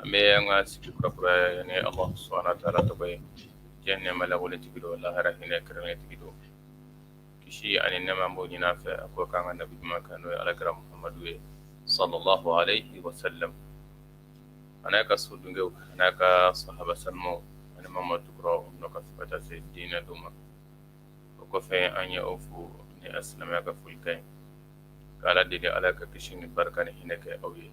an bɛ an ka sigi kurakuraya ni Alahu subahana wataala tɔgɔ ye diɲɛ nɛɛma lakolotigi don lahara hinɛ kɛrɛnkɛrɛntigi don kisi ani nɛɛma an b'o ɲini a fɛ a k'o k'an ka nabi ɲuman kan n'o ye alakira Mahamadu ye salalahu alehi wasalam a n'a ka so dungew a n'a ka sahaba sanumaw ani maa ma tugura u nɔ kan fo ka taa se diinɛ don ma o kɔfɛ an ye aw fo ni asilamɛya ka folikan ye k'Ala deli Ala ka kisi ni barika ni hinɛ kɛ aw ye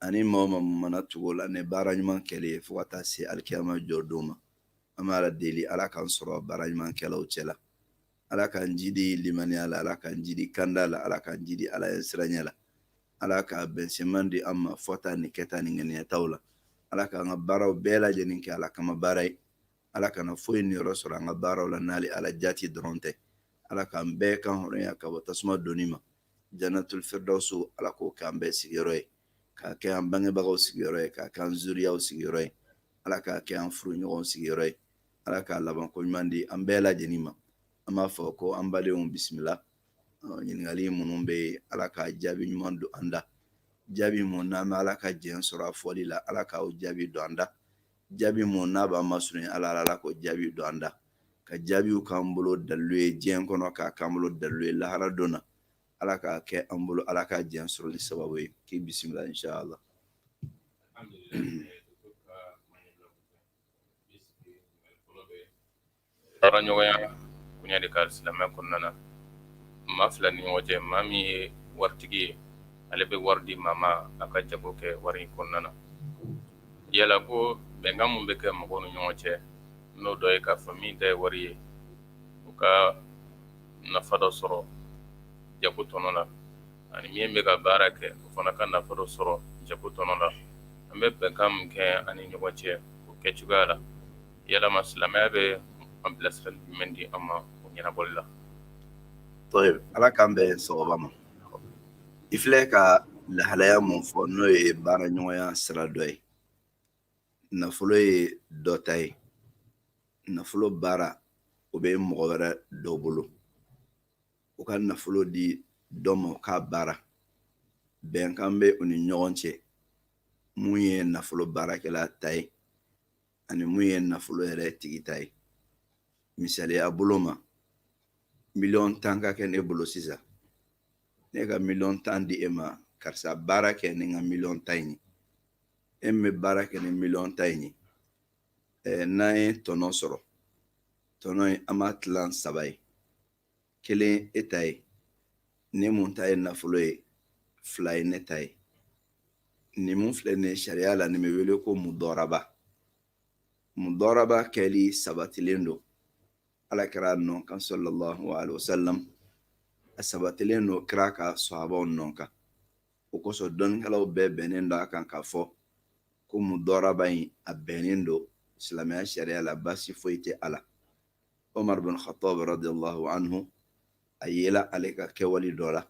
ani maa ma mana tugu u la ni baara ɲuman kɛlen ye fo ka taa se alikiyama jɔ don ma an bɛ ala deli ala k'an sɔrɔ baara ɲuman kɛlaw cɛ la ala k'an jidi limaniya la ala k'an jidi kanda la ala k'an jidi ala ɲɛsiranya la ala ka bɛnsenman di an ma fɔta ni kɛta ni ŋaniyataw la ala k'an ka baaraw bɛɛ lajɛlen kɛ ala kama baara ye ala kana foyi niyɔrɔ sɔrɔ an ka baaraw la n'ale ala jati dɔrɔn tɛ ala k'an bɛɛ kan hɔrɔnya ka bɔ tasuma donni ma janatul firdawsu ala k'o kɛ an bɛɛ sigiyɔrɔ ye k'a kɛ an bangebagaw sigiyɔrɔ ye k'a kɛ an zuriyaw sigiyɔrɔ ye ala k'a kɛ an furuɲɔgɔnw sigiyɔrɔ ye ala ka labanko ɲuman di an bɛɛ lajɛlen ma an b'a fɔ ko an badenw bisimila ɲininkali minnu bɛ yen ala ka jaabi ɲuman don an da jaabi mun n'an bɛ ala ka jɛn sɔrɔ a fɔli la ala k'o jaabi don an da jaabi mun n'a b'an masurunya ala la ala k'o jaabi don an da ka jaabiw k'an bolo dalilu ye diɲɛ kɔnɔ k'a k'an bolo dalilu ye lahara don na ala k'a kɛ an bolo ala ka diɲɛ sɔrɔli sababu ye k'i bisimila inshallah Baara ɲɔgɔnya koɲɛ de kan silamɛ kɔnɔna na maa fila ni ɲɔgɔn cɛ maa min ye waritigi ye ale bɛ wari di maa ma a ka jago kɛ wari in kɔnɔna na yala ko bɛnkan min bɛ kɛ mɔgɔw ni ɲɔgɔn cɛ n'o dɔ ye k'a fɔ min ta ye wari ye o ka nafa dɔ sɔrɔ jago tɔnɔ la ani min bɛ ka baara kɛ o fana ka nafa dɔ sɔrɔ jago tɔnɔ la an bɛ bɛnkan min kɛ an ni ɲɔgɔn cɛ o kɛ cogoya la yalama silamɛya bɛ an bilasirali jumɛn di an ma o ɲɛnabɔli la ala k'an bɛn sawaba ma i filɛ ka lahalaya mun fɔ n'o ye baara ɲɔgɔnya sira dɔ ye nafolo ye dɔ ta ye nafolo baara o bɛ mɔgɔ wɛrɛ dɔ bolo o ka nafolo di dɔ ma o k'a baara bɛnkan bɛ u ni ɲɔgɔn cɛ mun ye nafolo baarakɛla ta ye ani mun ye nafolo yɛrɛ tigi ta ye misaliya bolo ma miliyɔn tan ka kɛ ne bolo sisan ne ka miliyɔn tan di e ma karisa baara kɛ ni n ka miliyɔn tan in ye e min bɛ baara kɛ ni miliyɔn tan in ye n'an ye tɔnɔ sɔrɔ tɔnɔ in an b'a tilan saba ye kelen e ta ye ne mun ta ye nafolo ye fila ye ne ta ye nin mun filɛ nin ye sariya la nin bɛ wele ko mudɔraba mudɔraba kɛli sabatilen don ala kira nɔ kan salalahu alayhi wa salam a sabatilen don kira ka sahabaw nɔ kan o kosɔn dɔnnikɛlaw bɛɛ bɛnnen don a kan k'a fɔ ko mudɔraba in a bɛnnen don silamɛya sariya la baasi foyi tɛ a la umar bin khattab radiallahu anhu a yela ale ka kɛwale dɔ la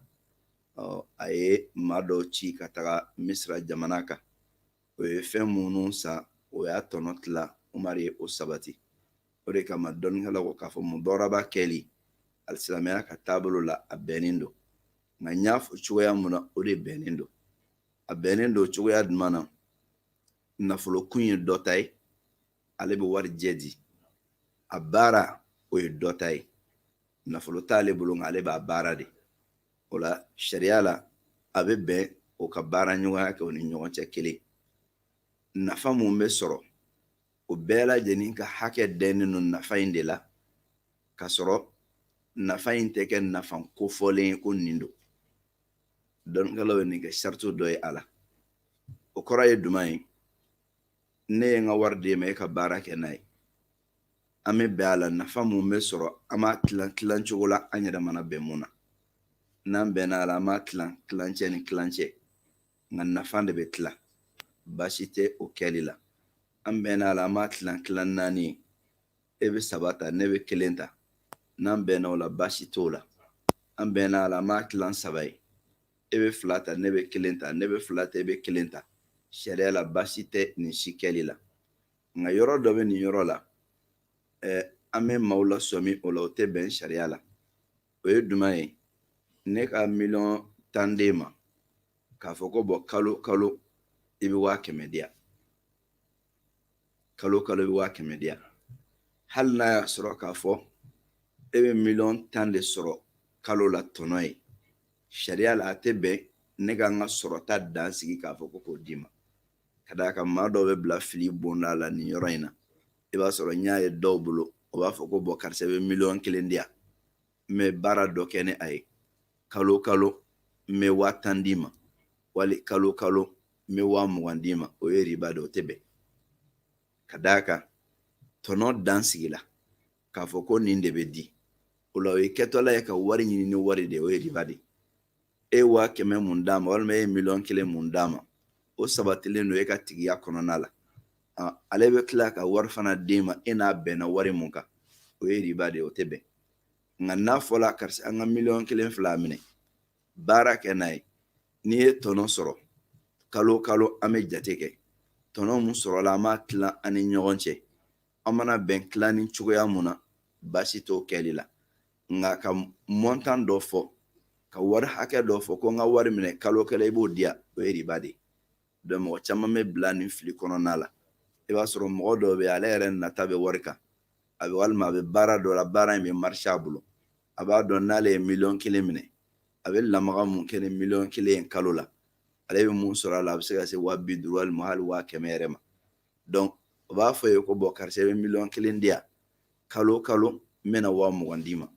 a ye maa dɔw ci ka taga misira jamana kan o ye fɛn minnu san o y'a tɔnɔ tila umar ye o sabati o de kama dɔnnikɛlaw ko k'a fɔ mudɔraba kɛli alisilamɛya ka taabolo la a bɛnnen don nka n y'a fɔ cogoya mun na o de bɛnnen don a bɛnnen don cogoya jumɛn na nafolo kun ye dɔ ta ye ale bɛ wari jɛ di a baara o ye dɔ ta ye nafolo t'ale bolo nka ale b'a baara de o la sariya la a bɛ bɛn o ka baara ɲɔgɔnya kɛ o ni ɲɔgɔn cɛ kelen nafa mun bɛ sɔrɔ o bɛɛ lajɛlen ka hakɛ dɛnnen don nafa in de la ka sɔrɔ nafa in tɛ kɛ nafa kofɔlen ye ko nin don dɔnnikɛlaw ye nin kɛ sarati dɔ ye a la o kɔrɔ ye jumɛn ye ne ye n ka wari d'e ma e ka baara kɛ n'a ye an bɛ bɛn a la nafa mun bɛ sɔrɔ an b'a tilan tilan cogo la an yɛrɛ mana bɛn mun na n'an bɛnna a la an b'a tilan tilancɛ ni tilancɛ nka nafa de bɛ tilan baasi tɛ o kɛli la an bɛnna a la an b'a tilan tilan naani ye e bɛ saba ta ne bɛ kelen ta n'an bɛnna o la baasi t'o la an bɛnna a la an b'a tilan saba ye e bɛ fila ta ne bɛ kelen ta ne bɛ fila ta e bɛ kelen ta sariya la baasi tɛ nin si kɛli la nka yɔrɔ dɔ bɛ nin yɔrɔ la ɛɛ an bɛ maaw lasɔmi o la o tɛ bɛn sariya la o ye jumɛn ye ne ka miliyɔn tan d'e ma k'a fɔ ko bɔn kalo kalo i bɛ waa kɛmɛ di yan kalo kalo i bɛ waa kɛmɛ di yan hali n'a y'a sɔrɔ k'a fɔ e bɛ miliyɔn tan de sɔrɔ kalo la tɔnɔ ye sariya la a tɛ bɛn ne ka n ka sɔrɔta dan sigi k'a fɔ ko k'o di n ma ka d'a kan maa dɔw bɛ bila fili bonda la nin yɔrɔ in na i b'a sɔrɔ n y'a ye dɔw bolo o b'a fɔ ko bɔn karisa bɛ miliyɔn kelen di yan n bɛ baara dɔ kɛ ni a ye kalo kalo n bɛ waa tan d'i ma wali kalo kalo n bɛ waa mugan d'i ma o ye riba de o tɛ bɛn ka d'a kan tɔnɔ dan sigila k'a fɔ ko nin de bɛ di o la o ye kɛtɔla ye ka wari ɲini ni wari de ye o ye riba de ye e ye waa kɛmɛ mun d'a ma walima e ye miliyɔn kelen mun d'a ma o sabatilen don e ka tigiya kɔnɔna la ale bɛ tila ka wari fana d'e ma e n'a bɛnna wari mun kan o ye riba de ye o tɛ bɛn nka n'a fɔla karisa n ka miliyɔn kelen fila minɛ baara kɛ n'a ye n'i ye tɔnɔ sɔrɔ kalo kalo an bɛ jate kɛ tɔnɔ mun sɔrɔla an b'a tila an ni ɲɔgɔn cɛ an mana bɛn tilani cogoya mun na baasi t'o kɛli la nka ka mɔntan dɔ fɔ ka wari hakɛ dɔ fɔ ko n ka wari minɛ kalo kalo i b'o di yan o ye riba de ye mɔgɔ caman bɛ bila nin fili kɔnɔna la i b'a sɔrɔ mɔgɔ dɔw bɛ ale yɛrɛ nata bɛ wari kan a bɛ walima a bɛ baara dɔ la baara in bɛ marisi a bolo a b'a dɔn n'ale ye miliyɔn kelen minɛ a bɛ lamaga mun kɛ ni miliyɔn kelen ye kalo la ale bɛ mun sɔrɔ a la a bɛ se ka se waa bi duuru walima hali waa kɛmɛ yɛrɛ ma dɔnku o b'a fɔ i ye ko bɔn karisa i bɛ miliyɔn kelen di yan kalo kalo n bɛna waa mugan d'i ma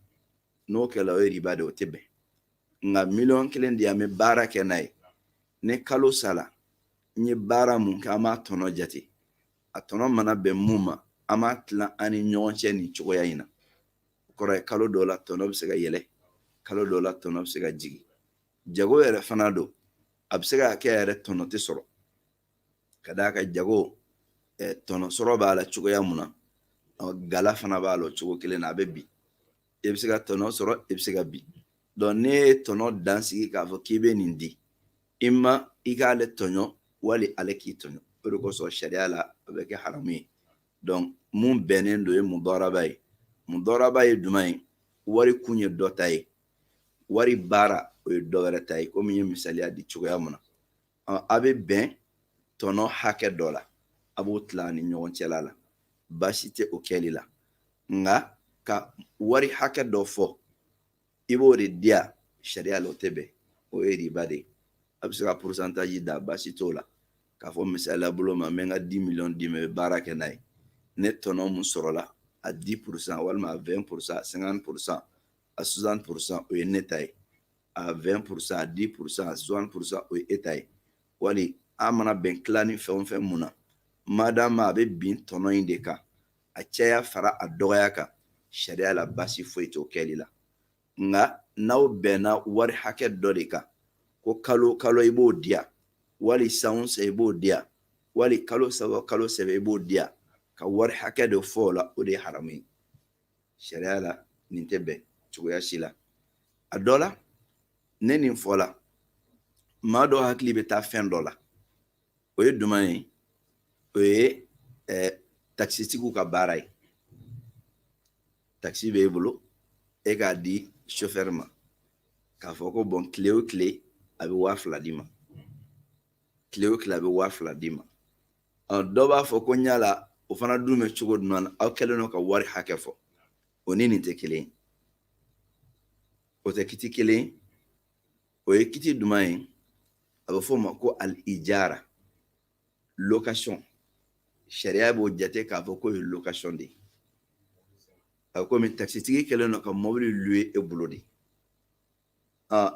n'o kɛra o ye riba de o tɛ bɛn nka miliyɔn kelen di yan n bɛ baara kɛ n'a ye ni kalo sara n ye baara mun kɛ an b'a tɔnɔ jate a tɔnɔ mana bɛn mun ma an b'a tilan an ni ɲɔgɔn cɛ nin cogoya in na o kɔrɔ ye kalo dɔw la tɔnɔ bɛ se ka yɛlɛ kalo dɔw la tɔnɔ bɛ se ka jigin jago yɛrɛ fana don a bɛ se ka kɛ yɛrɛ tɔnɔ tɛ sɔrɔ ka d'a kan jago tɔnɔ sɔrɔ b'a la cogoya mun na gala fana b'a la o cogo kelen na a bɛ bin i bɛ se ka tɔnɔ sɔrɔ i bɛ se ka bin dɔnku n'e ye tɔnɔ dan sigi k'a fɔ k'i bɛ nin di i ma i k'ale tɔɲɔ wali ale k'i tɔɲɔ o de kosɔn sariya la a bɛ kɛ haramu ye dɔnku mun bɛnnen don ye mudaraba ye mudaraba ye jumɛn ye wari kun ye dɔ ta ye wari baara o ye dɔ wɛrɛ ta ye komi n ye misaliya di cogoya mun na a bɛ bɛn tɔnɔ hakɛ dɔ la a b'o tila a ni ɲɔgɔn cɛla la baasi tɛ o kɛli la nka ka wari hakɛ dɔ fɔ i b'o de di yan sariya la o tɛ bɛn o ye riba de ye a bɛ se ka porosantaji da baasi t'o la k'a fɔ misaliya bolo ma n bɛ n ka di miliyɔn d'i ma i bɛ baara kɛ n'a ye ni tɔnɔ mun sɔrɔla a di porosan walima a wɛn porosan a sɛnkanti porosan a suwasanti porosan o ye ne ta ye a 20 pour cent a 10 pour cent a 60 pour cent o ye e ta ye wali an mana bɛn tilani fɛn o fɛn mun na madama a bɛ bin tɔnɔ in de kan a caya fara a dɔgɔya kan sariya la baasi foyi t'o kɛli la nka n'aw bɛnna wari hakɛ dɔ de kan ko kalo kalo i b'o di yan wali san o san i b'o di yan wali kalo saba kalo saba i b'o di yan ka wari hakɛ dɔ fɔ o la o de ye haramu ye sariya la nin tɛ bɛn cogoya si la a dɔ la ne nin fɔ la maa dɔ hakili bɛ taa fɛn dɔ la o ye duman ye o ye eh, takisitigiw ka baara ye takisi b'e bolo e k'a di sofɛri ma k'a fɔ ko bon tile o tile a bɛ waa fila d'i ma tile o tile a bɛ waa fila d'i ma dɔ b'a fɔ ko yala o fana dun bɛ cogo duman na aw kɛlen don ka wari hakɛ fɔ o ni nin tɛ kelen ye o tɛ kiti kelen ye o ye kiti duman ye a bɛ f'o ma ko al-ijara location sariya b'o jate k'a fɔ k'o ye location de ye a bɛ komi takisitigi kɛlen don ka mobili louer e bolo de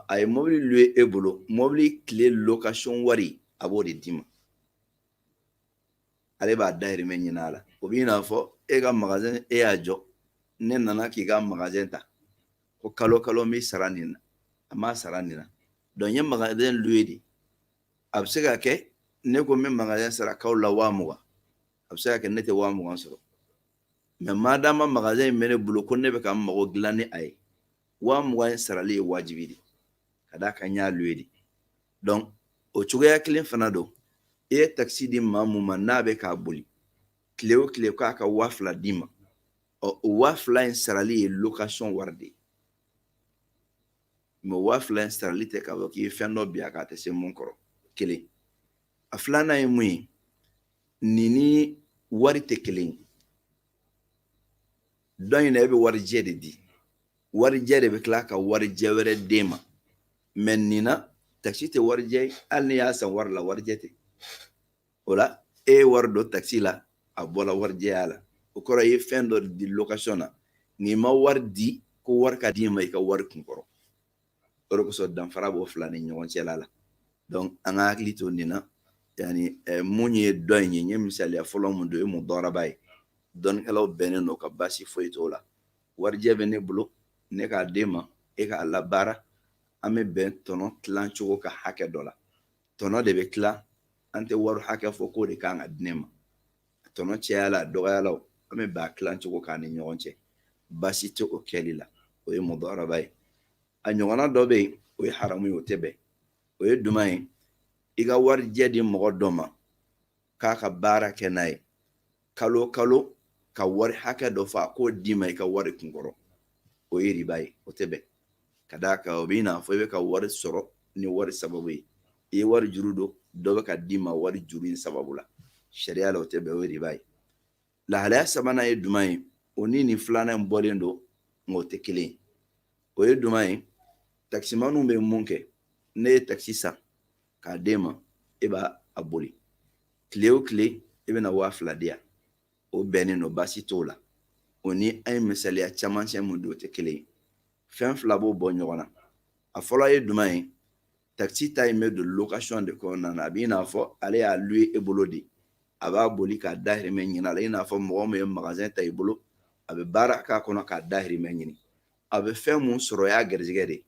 a ye mobili louer e bolo mobili tile location wari a b'o de d'i ma ale b'a dahirimɛ ɲini a la o b'i n'a fɔ e ka magazɛn e y'a jɔ ne nana k'i ka magazɛn ta ko kalo kalo n b'i sara nin na a m'a sara nin na donc n ye magazɛn louer de a bɛ se ka kɛ ne ko n bɛ magazɛn sara kalo la waa mugan a bɛ se ka kɛ ne tɛ waa mugan sɔrɔ mais maadama magazɛn in bɛ ne bolo ko ne bɛ ka n mago dilan ni a ye waa mugan in sarali ye wajibi de ka d'a kan n y'a louer de donc o cogoya kelen fana don i ye takisi di maa mun ma n'a bɛ k'a boli tile o tile k'a ka waa fila d'i ma ɔ o waa fila in sarali ye location wari de ye mais waa fila in sarali tɛ k'a fɔ k'i ye fɛn dɔ bin a kan a tɛ se mun kɔrɔ kelen a filanan ye mun ye nin ni wari tɛ kelen ye dɔ in na e bɛ warijɛ de di warijɛ de bɛ tila ka warijɛ wɛrɛ d'e ma mais nin na takisi tɛ warijɛ ye hali n'i y'a san wari la warijɛ tɛ o la e ye wari don takisi la a bɔla warijɛya la o kɔrɔ i ye fɛn dɔ di location na i ma wari di ko wari ka d'i ma i ka wari kun kɔrɔ o de kosɔn danfara b'o fila ni ɲɔgɔn cɛla la donc an ka hakili to nin na yani eh, mun ye dɔ in ye n ye misaliya fɔlɔ mun don o ye mudaraba ye dɔnnikɛlaw bɛnnen don a kan baasi foyi t'o la warijɛ bɛ ne bolo ne k'a d'e ma e k'a labaara an bɛ bɛn tɔnɔ tilan cogo kan hakɛ dɔ la tɔnɔ de bɛ tila an tɛ wari hakɛ fɔ k'o de kan ka di ne ma tɔnɔ cayala a dɔgɔyala an bɛ bɛn a tilan cogo kan an ni ɲɔgɔn cɛ baasi tɛ o kɛli la o ye mudaraba ye a ɲɔgɔnna dɔ bɛ yen o ye haramu ye o tɛ bɛn o ye duman ye i ka warijɛ di mɔgɔ dɔ ma k'a ka baara kɛ n'a ye kalo kalo ka wari hakɛ dɔ fɔ a k'o d'i ma i ka wari kunkɔrɔ o ye riba ye o tɛ bɛn ka d'a kan o b'i n'a fɔ i bɛ ka wari sɔrɔ ni wari sababu ye i ye wari juru don dɔ bɛ ka d'i ma wari juru in sababu la sariya la o tɛ bɛn o ye riba ye lahalaya sabanan ye jumɛn ye o ni nin filanan in bɔlen don nka o tɛ kelen ye o ye jumɛn ye takisimaniw bɛ mun kɛ ne ye takisi san k'a d'e ma e b'a boli tile o tile e bɛna waa fila di yan o bɛnnen don baasi t'o la o ni an ye misaliya camancɛ mun di o tɛ kelen ye fɛn fila b'o bɔ ɲɔgɔn na a fɔlɔ ye jumɛn ye takisi ta in bɛ don location de kɔnɔna na a b'i n'a fɔ ale y'a louer e bolo de a b'a boli k'a dahirimɛ ɲini a la i n'a fɔ mɔgɔ min ye magasin ta i bolo a bɛ baara k'a kɔnɔ k'a dahirimɛ ɲini a bɛ fɛn mun sɔrɔ o y'a garijɛgɛ de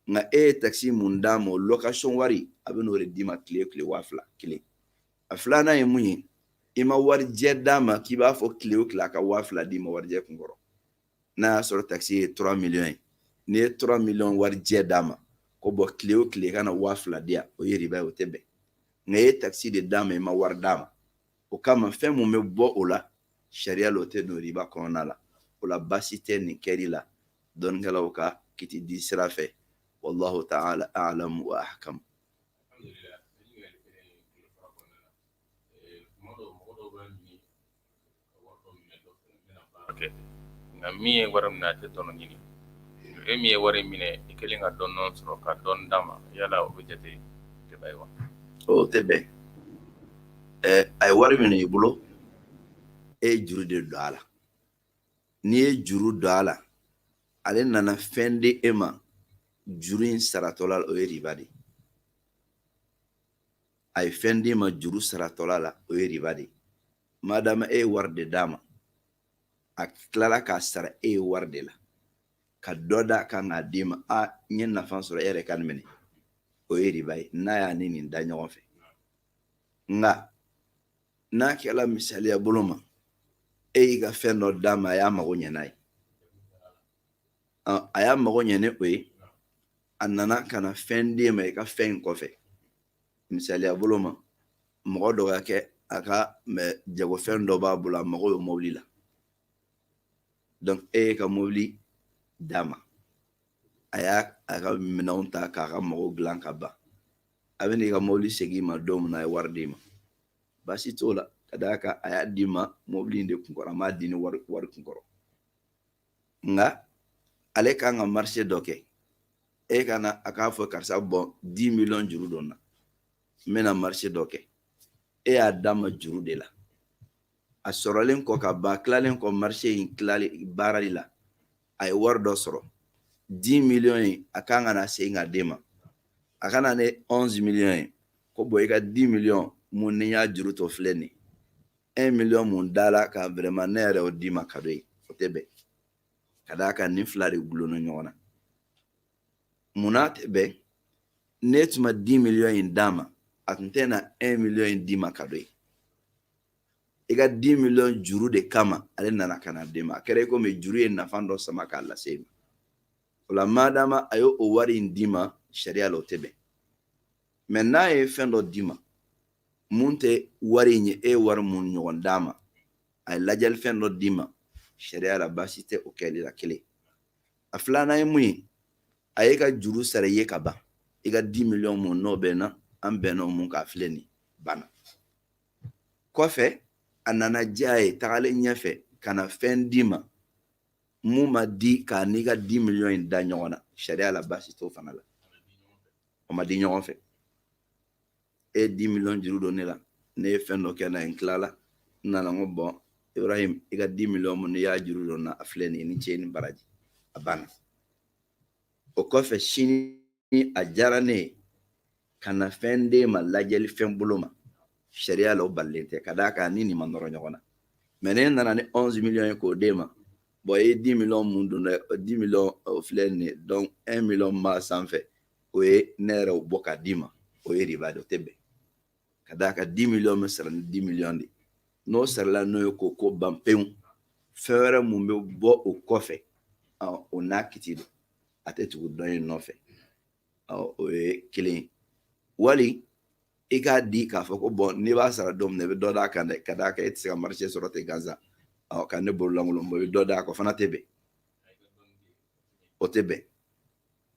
nka e ye takisi mun d'a ma o location wari a bɛ n'o de d'i ma tile o tile waa fila kelen a filanan ye mun ye i ma warijɛ d'a ma k'i b'a fɔ tile o tile a ka waa fila d'i ma warijɛ kun kɔrɔ n'a y'a sɔrɔ takisi ye trois millions ye n'i ye trois millions warijɛ d'a ma ko bɔn tile o tile ka na waa fila di yan o ye riba ye o tɛ bɛn nka e ye takisi de d'a ma i ma wari d'a ma o kama fɛn mun bɛ bɔ o la sariya la o tɛ don riba kɔnɔna la o la baasi tɛ nin kɛli la dɔnnikɛlaw ka kiti di sira fɛ wallahu ta'ala a'lamu wa ahkamu nka min ye wari minɛ a tɛ tɔnɔ ɲini e min ye wari minɛ i kelen ka tɔnɔ sɔrɔ ka dɔ d'a ma yala o bɛ jate riba ye wa o tɛ bɛn a ye wari minɛ i bolo e ye juru de don a la n'i ye juru don a la ale nana fɛn di e ma juru in saratɔla la o ye riba de a ye fɛn d'i ma juru saratɔla la o ye riba de madama e ye wari de d'a ma a tilala k'a sara e ye wari de la ka dɔ d'a kan k'a d'i ma a n ye nafa sɔrɔ e yɛrɛ ka nin minɛ o ye riba ye n'a y'a ni nin da ɲɔgɔn fɛ nka n'a kɛla misaliya bolo ma e y'i ka fɛn dɔ d'a ma a y'a mago ɲɛ n'a ye a y'a mago ɲɛ ni o ye a nana ka na fɛn d'e ma i ka fɛn in kɔfɛ misaliya bolo ma mɔgɔ dɔ ka kɛ a ka jagofɛn dɔ b'a bolo a mago bɛ mobili la donc e y'i ka mobili d'a ma a y'a a ka minɛnw ta k'a ka mago dilan ka ban a bɛ n'i ka mobili segin i ma don min na a ye wari d'i ma baasi t'o la ka d'a kan a y'a d'i ma mobili in de kun kɔrɔ a m'a di ni wari kun kɔrɔ nka ale kan ka marché dɔ kɛ e ka na a k'a fɔ karisa bɔn dix millions juru don n na n bɛna marché dɔ kɛ e y'a d'a ma juru de la a sɔrɔlen kɔ ka ban tilalen kɔ marché in tilali baarali la a ye wari dɔ sɔrɔ di miliyɔn in a kan ka na segin ka d'e ma a ka na ni ɔnzi miliyɔn ye ko bɔn i ka di miliyɔn mun n'i y'a juru don a filɛ nin un miliyɔn mun dala a kan vraiment ne yɛrɛ y'o d'i ma kado ye o tɛ bɛn ka d'a kan nin fila de gulonna ɲɔgɔn na munna a tɛ bɛn ne tun ma di miliyɔn in d'a ma a tun tɛ na un miliyɔn in d'i ma kado ye i ka di miliyɔn juru de kama ale nana ka na d'e ma a kɛra i komi juru ye nafa dɔ sama k'a lase i ma o la madama a ye o wari in d'i ma sariya la o tɛ bɛn mɛ n'a ye fɛn dɔ d'i ma mun tɛ wari in ye e ye wari mun ɲɔgɔn d'a ma a ye ladiyalifɛn dɔ d'i ma sariya la baasi tɛ o kɛli la kelen a filanan ye mun ye a y'i ka juru sara i ye ka ban i ka di miliyɔn mun n'o bɛnna an bɛnna o mun kan a filɛ nin banna kɔfɛ a nana diya a ye tagalen ɲɛfɛ ka na fɛn d'i ma mun ma di k'a n'i ka di miliyɔn in da ɲɔgɔn na sariya la baasi t'o fana la o ma di ɲɔgɔn fɛ e ye di miliyɔn juru don ne la ne ye fɛn dɔ kɛ n'a ye n tilala n nana n ko bɔn ibrahim i ka di miliyɔn mun n'i y'a juru don n na a filɛ nin ye i ni ce i ni baraji a banna o kɔfɛ sini ni a diyara ne ye ka na fɛn d'e ma ladiyalifɛn bolo ma sariya la o balilen tɛ ka d'a kan ni nin ma nɔrɔ ɲɔgɔn na mɛ ne nana ni onze miliyɔn ye k'o d'e ma bɔn e ye di miliyɔn mun don dɛ di miliyɔn o filɛ nin ye dɔnku un miliyɔn b'a sanfɛ o ye ne yɛrɛ y'o bɔ k'a d'i ma o ye riba de o tɛ bɛn ka d'a kan di miliyɔn bɛ sara ni di miliyɔn de n'o sarala n'o ye k'o ko ban pewu fɛn wɛrɛ mun bɛ bɔ o kɔfɛ o n'a kiti don a tɛ tugu dɔ in nɔfɛ o ye kelen wali i k'a di k'a fɔ ko bɔn n'i b'a sara don min na i bɛ dɔ d'a kan dɛ ka d'a kan e tɛ se ka marché sɔrɔ ten gansan ɔ ka ne bolo lankolon bɔ i bɛ dɔ d'a kan o fana tɛ bɛn o tɛ bɛn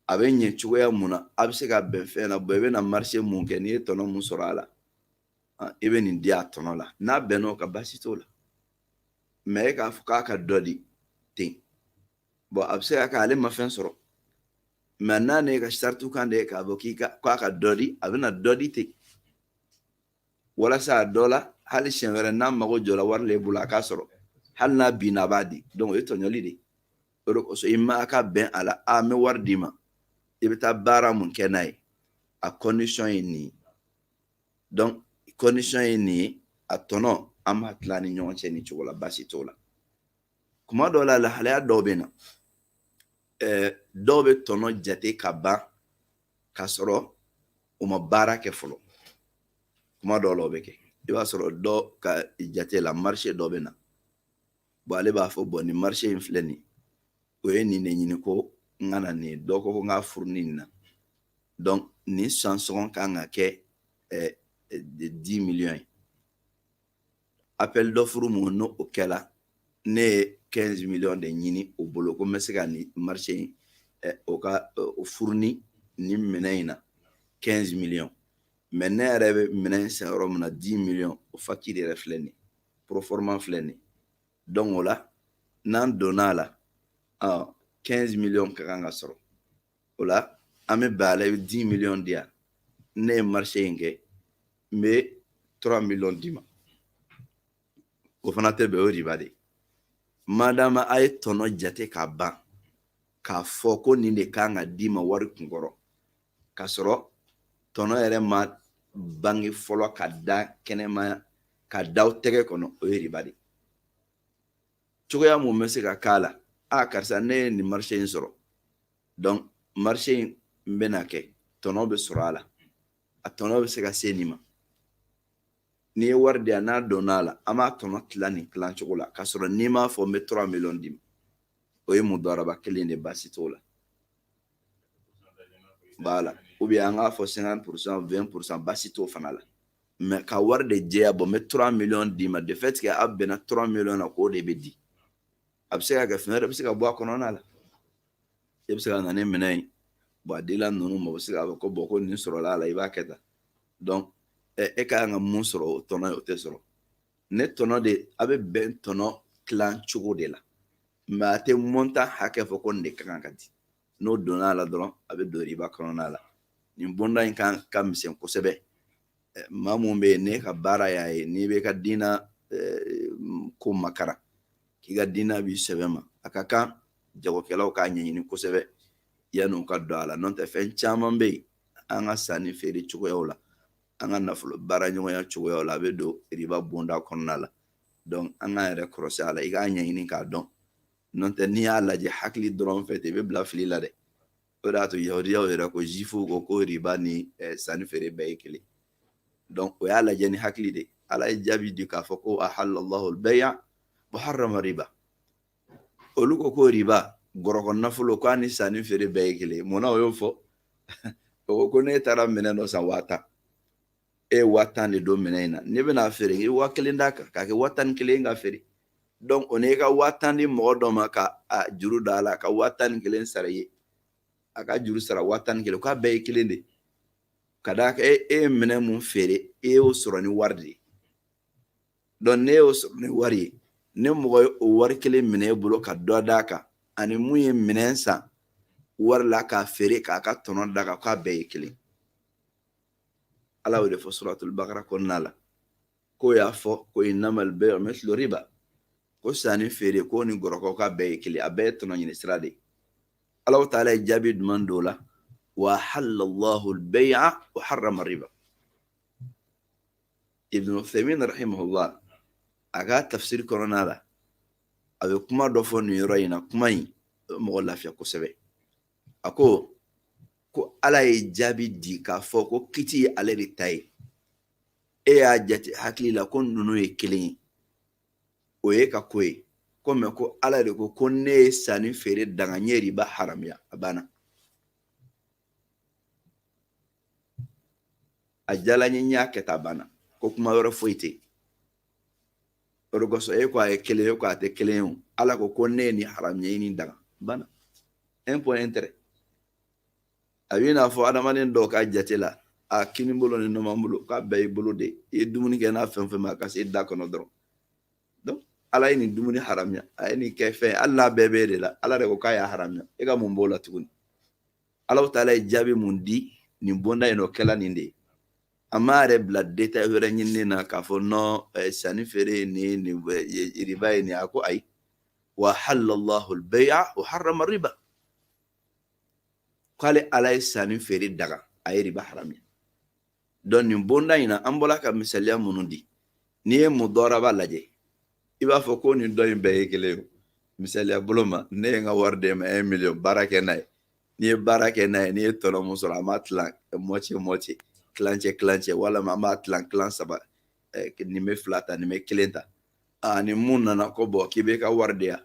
a bɛ ɲɛ cogoya mun na a bɛ se ka bɛn fɛn na bɔn i bɛna marché mun kɛ n'i ye tɔnɔ mun sɔrɔ a la i bɛ nin di a tɔnɔ la n'a bɛnn'o kan baasi t'o la mɛ e k'a fɔ k'a ka dɔ di ten bɔn a bɛ se ka kɛ ale ma fɛn sɔrɔ mɛ n'a ne ka saritiw kan de ye k'a fɔ k'i ka k'a ka dɔ di a bɛna dɔ di ten walasa a dɔ la hali siɲɛ wɛrɛ n'a mago jɔra wari la i bolo a k'a sɔrɔ hali n'a binna a b'a di donc o ye tɔɲɔli de ye o de kosɔn i ma ka bɛn a la a n bɛ wari d'i ma i bɛ taa baara mun kɛ n'a ye a condition ye nin ye donc condition ye nin ye a tɔnɔ an b'a tila an ni ɲɔgɔn cɛ nin cogo la baasi t'o la kuma dɔw la lahalaya dɔw bɛ na dɔw bɛ tɔnɔ jate ka ban k'a sɔrɔ u ma baara kɛ fɔlɔ kuma dɔw la o bɛ kɛ i b'a sɔrɔ dɔ ka jate la marché dɔ bɛ na bon ale b'a fɔ bon nin marché in filɛ nin o ye nin de ɲini ko n ka na nin dɔ ko ko n k'a fournir nin na donc nin san sɔngɔ kan ka kɛ 10 millions ye appel d'offre mun n'o kɛla ne ye 15 millions de ɲini o bolo ko n bɛ se ka nin marché in o ka o fournir nin minɛn in na 15 millions mais ne yɛrɛ bɛ minɛn san yɔrɔ min na 10 millions o facture yɛrɛ filɛ nin proforma filɛ nin donc o la n'an donna a la 15 millions ka kan ka sɔrɔ o la an bɛ bɛn a la i bɛ 10 millions di yan ne ye marché in kɛ n bɛ 3 millions d'i ma o fana tɛ bɛn o ye riba de madama a ye tɔnɔ jate ka ban k'a fɔ ko nin de kan ka d'i ma wari kunkɔrɔ k'a sɔrɔ tɔnɔ yɛrɛ ma bange fɔlɔ ka da kɛnɛma ka da aw tɛgɛ kɔnɔ o ye riba de cogoya mun bɛ se ka k'a la a karisa ne ye nin marché in sɔrɔ donc marché in n bɛna kɛ tɔnɔ bɛ sɔrɔ a la a tɔnɔ bɛ se ka se nin ma n'i ye wari di yan n'a donna a la an b'a tɔnɔ tila nin tilan cogo la k'a sɔrɔ n'i m'a fɔ n bɛ 3 millions d'i ma o ye mudaraba kelen de baasi t'o la voilà ou bien an k'a fɔ 50% 20% baasi t'o fana la mais ka wari de jɛya bon n bɛ 3 millions d'i ma de fait que a bɛnna 3 millions na k'o de bɛ di a bɛ se ka kɛ fɛn wɛrɛ bɛ se ka bɔ a kɔnɔna la e bɛ se ka na ni minɛn ye bon a dila ninnu ma o bɛ se k'a fɔ ko bon ko nin sɔrɔla a la i b'a kɛ tan donc e ka kan ka mun sɔrɔ o tɔnɔ ye o tɛ sɔrɔ ne tɔnɔ de a bɛ bɛn tɔnɔ tilan cogo de la mais a tɛ montant hakɛ fɔ ko nin de ka kan ka di n'o donna a la dɔrɔn a bɛ don riba kɔnɔna la nin bonda in kan ka misɛn kosɛbɛ eh, maa mun bɛ yen n'i ka baara y'a ye n'i bɛ ka diina eh, ko makara k'i ka diina b'i sɛbɛ ma a ka kan jagokɛlaw k'a ɲɛɲini kosɛbɛ yanni u ka don a la n'o tɛ fɛn caman bɛ yen an ka sanni feere cogoyaw la an ka nafolo baara ɲɔgɔnya cogoyaw la a bɛ don riba bonda kɔnɔna la donc an k'an yɛrɛ kɔlɔsi a la i k'a ɲɛɲini k'a dɔn n'o tɛ n'i y'a lajɛ hakili dɔrɔn fɛ ten i bɛ bila fili la dɛ o de y'a to yahudiyaw yɛrɛ ko zifuw ko ko riba ni eh, sanni feere bɛɛ ye kelen o y'a lajɛ ni hakili de ala ye jaabi di k'a fɔ ko ahallallahu bay'a wa harrama riba olu ko ko riba gɔrɔkɔ nafolo k'a ni sanni feere bɛɛ ye kelen mun na o y'o fɔ o ko ko n'e taara minɛn dɔ san waa tan e ye waa tan de don minɛn in na n'e bɛn'a feere i waa kelen d'a kan k'a kɛ waa tan ni kelen k'a feere donc o n'e ka waa tan di mɔgɔ dɔ ma ka a juru da a la ka waa tan ni kelen sara i ye a ka juru sara waa tan ni kelen k'a bɛɛ ye kelen de k'a d'a kan e ye minɛn mun feere e y'o sɔrɔ ni wari de ye donc n'e y'o sɔrɔ ni wari ye ni mɔgɔ ye o wari kelen minɛ e bolo ka dɔ d'a kan ani mun ye minɛn san wari la k'a feere k'a ka tɔnɔ d'a kan k'a bɛɛ ye kelen ala y'o de fɔ suratul bakara kɔnɔna la k'u y'a fɔ ko innamal bay'u mithlu riba ko sanni feere k'o ni gɔrɔkɔ k'a bɛɛ ye kelen a bɛɛ ye tɔnɔ ɲini sira de ye ala taala ye jaabi duman d'o la wa ahallallahu albay'a wa harrama riba ibn uthaymin rahimahullah a ka tafsiri kɔnɔna la a bɛ kuma dɔ fɔ nin yɔrɔ in na kuma in a bɛ mɔgɔ lafiya kosɛbɛ a ko ko ala ye jaabi di k'a fɔ ko kiti ye ale de ta ye e y'a jate hakili la ko ninnu ye kelen ye o y'e ka ko ye ko mais ko ala de ko ko ne ye sanni feere daga n ye riba haramuya a banna a diyala n ye n y'a kɛ ten a banna ko kuma wɛrɛ foyi tɛ yen o de kosɔn e ko a ye kelen ye ko a tɛ kelen ye o ala ko ko ne ye nin haramuya n ye nin daga a banna un point un trait a b'i n'a fɔ adamaden dɔw ka jate la a kini bolo ni numan bolo k'a bɛɛ y'i bolo de ye i ye dumuni kɛ n'a fɛn fɛn ma ka se da kɔnɔ dɔrɔn donc ala ye nin dumuni haramuya a ye nin kɛ fɛn ye hali n'a bɛɛ b'e de la ala de ko k'a y'a haramuya e ka mun b'o la tuguni ala taala ye jaabi mun di nin bonda in o kɛla nin de ye a m'a yɛrɛ bila détail wɛrɛ ɲinini na k'a fɔ non eh, sanni feere ye nin nin eh, riba ye nin a ko ayi wa ahallallahu albay'a wa harrama riba k'ale ala ye sanni feere daga a ye riba haramuya donc nin bonda in na an bɔra ka misaliya minnu di n'i ye mudɔraba lajɛ i b'a fɔ ko nin ni dɔ in bɛɛ ye kelen ye misaliya bolo ma ne ye n ka wari d'e ma un million baara kɛ n'a ye n'i ye baara kɛ n'a ye n'i ye tɔnɔ mun sɔrɔ an b'a tilan moitié moitié tilancɛ tilancɛ walima an b'a tilan tilan saba nin bɛ fila ta nin bɛ kelen ta ani mun nana ko bon k'i b'i ka wari di yan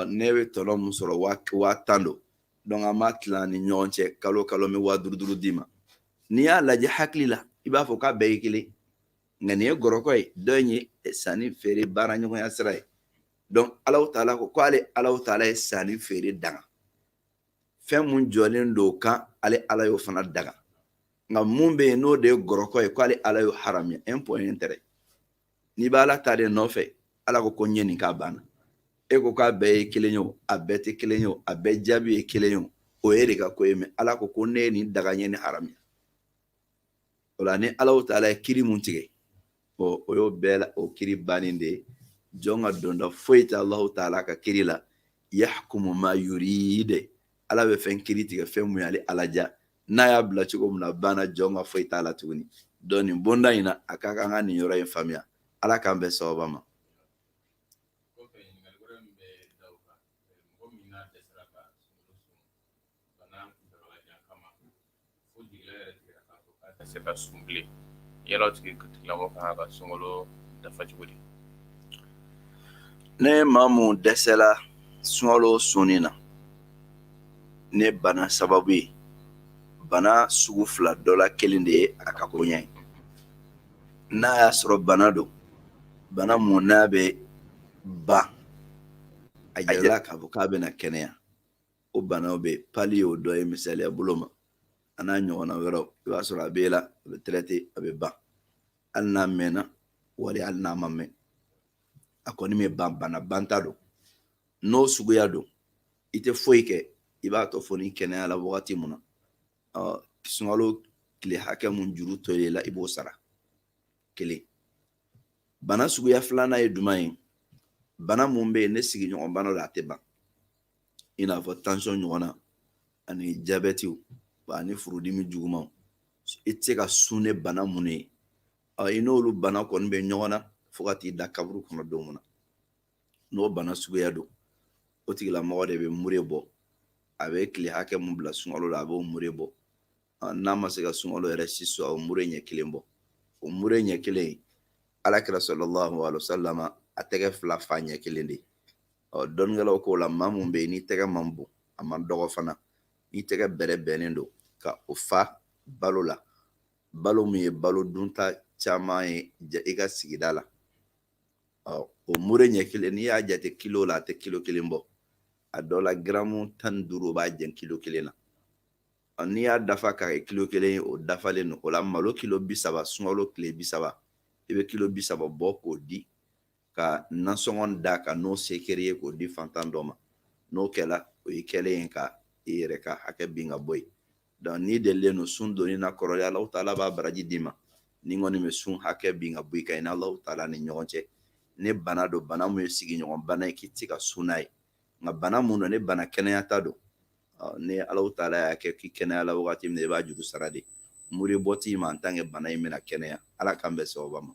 ne bɛ tɔnɔ mun sɔrɔ waa tan don an b'a tilan ni ɲɔgɔn cɛ kalo kalo n bɛ waa duuru duuru d'i ma n'i y'a lajɛ hakili la i b'a fɔ k'a bɛɛ ye kelen nka nin ye gɔrɔkɔ ye dɔ in ye sanni feere baara ɲɔgɔnya sira ye donc ala taala ko k'ale ala taala ye sanni feere daga fɛn mun jɔlen don o kan ale ala y'o fana daga nka mun bɛ yen n'o de ye gɔrɔkɔ ye k'ale ala y'o haramuya un point un trait n'i bɛ ala ta de nɔfɛ ala ko ko n ye nin k'a banna e ko k'a bɛɛ ye kelen ye o a bɛɛ tɛ kelen ye o a bɛɛ jaabi ye kelen ye o o y'e de ka ko ye mɛ ala ko ko ne ye nin daga n ye nin haramuya o la ni ala taala ye kiri mun tigɛ o y'o bɛɛ la o kiri bannen de ye jɔn ka donda foyi tɛ alahu taala ka kiri la yahkumu ma yurid ala bɛ fɛn kiri tigɛ fɛn mun y'ale ala diya n'a y'a bila cogo min na a banna jɔn ka foyi t'a la tuguni donc nin bonda in na a ka kan ka nin yɔrɔ in faamuya ala k'an bɛn sababa ma se ka sun bilen yala tigi tigilamɔgɔ kan ka sunkalo dafa cogo di ni maa mun dɛsɛla sunkalo sunni na ni bana sababu ye bana sugu fila dɔ la kelen de ye a ka koɲa ye n'a y'a sɔrɔ bana don bana mun n'a bɛ ban a yɛlɛla k'a fɔ k'a bɛna kɛnɛya o banaw bɛ pali y'o dɔ ye misaliya bolo ma a n'a ɲɔgɔnna wɛrɛw i b'a sɔrɔ a b'e la a bɛ traité a bɛ ban hali n'a mɛnna wali hali n'a ma mɛn a kɔni bɛ ban bana banta don n'o suguya don i tɛ foyi kɛ i b'a to fo n'i kɛnɛyala wagati mun na sunkalo tile hakɛ mun juru tol'i la i b'o sara kelen bana suguya filanan ye jumɛn ye bana mun bɛ yen ni sigiɲɔgɔn bana la a tɛ ban i n'a fɔ tansiyɔn ɲɔgɔnna ani jabɛtiw ani furudimi jugumanw i tɛ se ka sun ni bana mun ye i n'olu bana kɔni bɛ ɲɔgɔn na fo ka t'i da kaburu kɔnɔ don mun na n'o bana suguya don o tigilamɔgɔ de bɛ mure bɔ a bɛ tile hakɛ mun bila sunkalo la a b'o mure bɔ n'a ma se ka sunkalo yɛrɛ si sɔrɔ a bɛ mure ɲɛ kelen bɔ o mure ɲɛ kelen in ala kira sallallahu alayhi wa sallam a tɛgɛ fila fa ɲɛ kelen de ɔ dɔnnikɛlaw k'o la maa mun bɛ yen ni tɛgɛ man bon a man dɔgɔ fana ni tɛgɛ bɛrɛbɛnnen don ka o fa balo la balo min ye balo dunta caman ye i ka sigida la o mure ɲɛ kelen n'i y'a jate kilo la a tɛ kilo kelen bɔ a dɔ la garamu tan ni duuru o b'a jɛn kilo kelen na n'i y'a dafa k'a kɛ kilo kelen ye o dafalen don o la malo kilo bi saba sunkalo tile bi saba i bɛ kilo bi saba bɔ k'o di ka nasɔngɔ d'a kan n'o se kɛr'i ye k'o di fantan dɔ ma n'o kɛla o y'i kɛlen ye ka i yɛrɛ ka hakɛ bin ka bɔ yen donc n'i delilen don sun donni na kɔrɔlen ala taala b'a baraji d'i ma nin kɔni bɛ sun hakɛ bin ka bɔ i kan i n'ala taala ni ɲɔgɔn cɛ ni bana don bana min ye sigiɲɔgɔn bana ye k'i tɛ se ka sun n'a ye nka bana min don ni bana kɛnɛyata don ni ala taala y'a kɛ k'i kɛnɛyala wagati min i b'a juru sara de mure bɔ t'i ma en tant que bana in bɛna kɛnɛya ala k'an bɛn sababa ma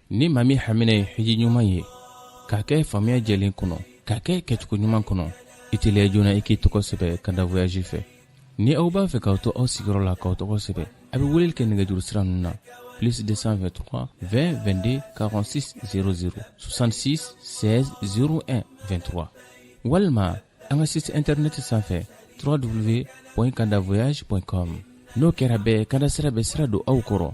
ni maa min hamina ye hiji ɲuman ye k'a kɛ faamuya jɛlen kɔnɔ k'a kɛ kɛcogo ɲuman kɔnɔ i teliya joona i k'i tɔgɔ sɛbɛ kanda voyaji fɛ ni aw b'a fɛ k'aw to aw sigiyɔrɔ la k'aw tɔgɔ sɛbɛ a bɛ weleli kɛ nɛgɛjuru sira ninnu na plus 223 20 22 46 00 66 16 01 23 walima an ka site internet sanfɛ www.kandavoyage.com n'o kɛra bɛɛ kanda sira bɛ sira don aw kɔrɔ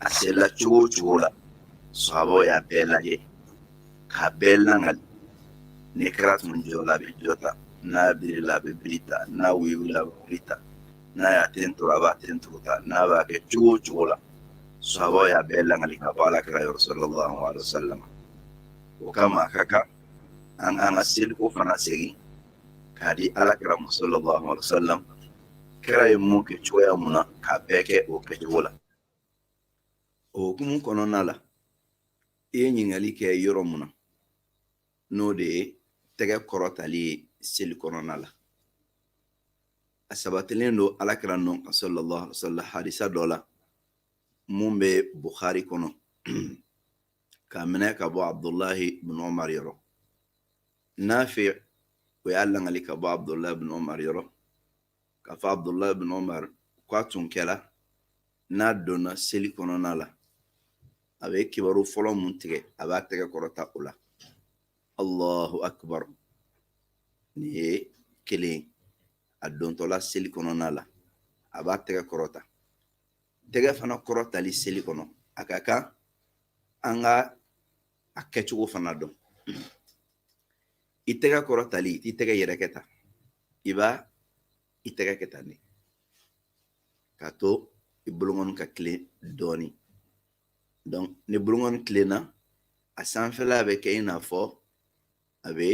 a sela cogo o cogo la sahaba y'a bɛɛ lajɛ k'a bɛɛ langali ni kira tun jɔ la a bɛ jɔ ta n'a biri la a bɛ biri ta n'a wuli la a bɛ wuli ta n'a y'a ten turu a b'a ten turu ta n'a b'a kɛ cogo o cogo la sahaba y'a bɛɛ langali ka bɔ ala kira yɔrɔ sallallahu alaihi wasallam o kama a ka kan an k'an ka seliko fana segin k'a di ala kira ma sallallahu alaihi wasallam kira ye mun kɛ cogoya mun na k'a bɛɛ kɛ o kɛcogo la o hukumu kɔnɔna la i ye ɲininkali kɛ yɔrɔ mun na n'o de ye tɛgɛ kɔrɔtali ye seli kɔnɔna la a sabatilen don ala kira nɔ kan sallallahu alaihi wasallam hadisa dɔ la mun bɛ bukhari kɔnɔ k'a minɛ ka bɔ abdulahi bin omar yɔrɔ nafi o y'a langali ka bɔ abdulahi bin omar yɔrɔ k'a fɔ abdulahi bin omar k'a tun kɛra n'a donna seli kɔnɔna la a bɛ kibaru fɔlɔ mun tigɛ a b'a tɛgɛ kɔrɔta o la allahu akbar nin ye kelen a dontɔla seli kɔnɔna la a b'a tɛgɛ kɔrɔta tɛgɛ fana kɔrɔtali seli kɔnɔ a ka kan an ka a kɛcogo fana dɔn i tɛgɛ kɔrɔtali i t'i tɛgɛ yɛrɛkɛ tan i b'a i tɛgɛ kɛ tan de k'a to i bolokɔni ka tilen dɔɔni donc ni bolokɔni tilenna a sanfɛla bɛ kɛ i n'a fɔ a bɛ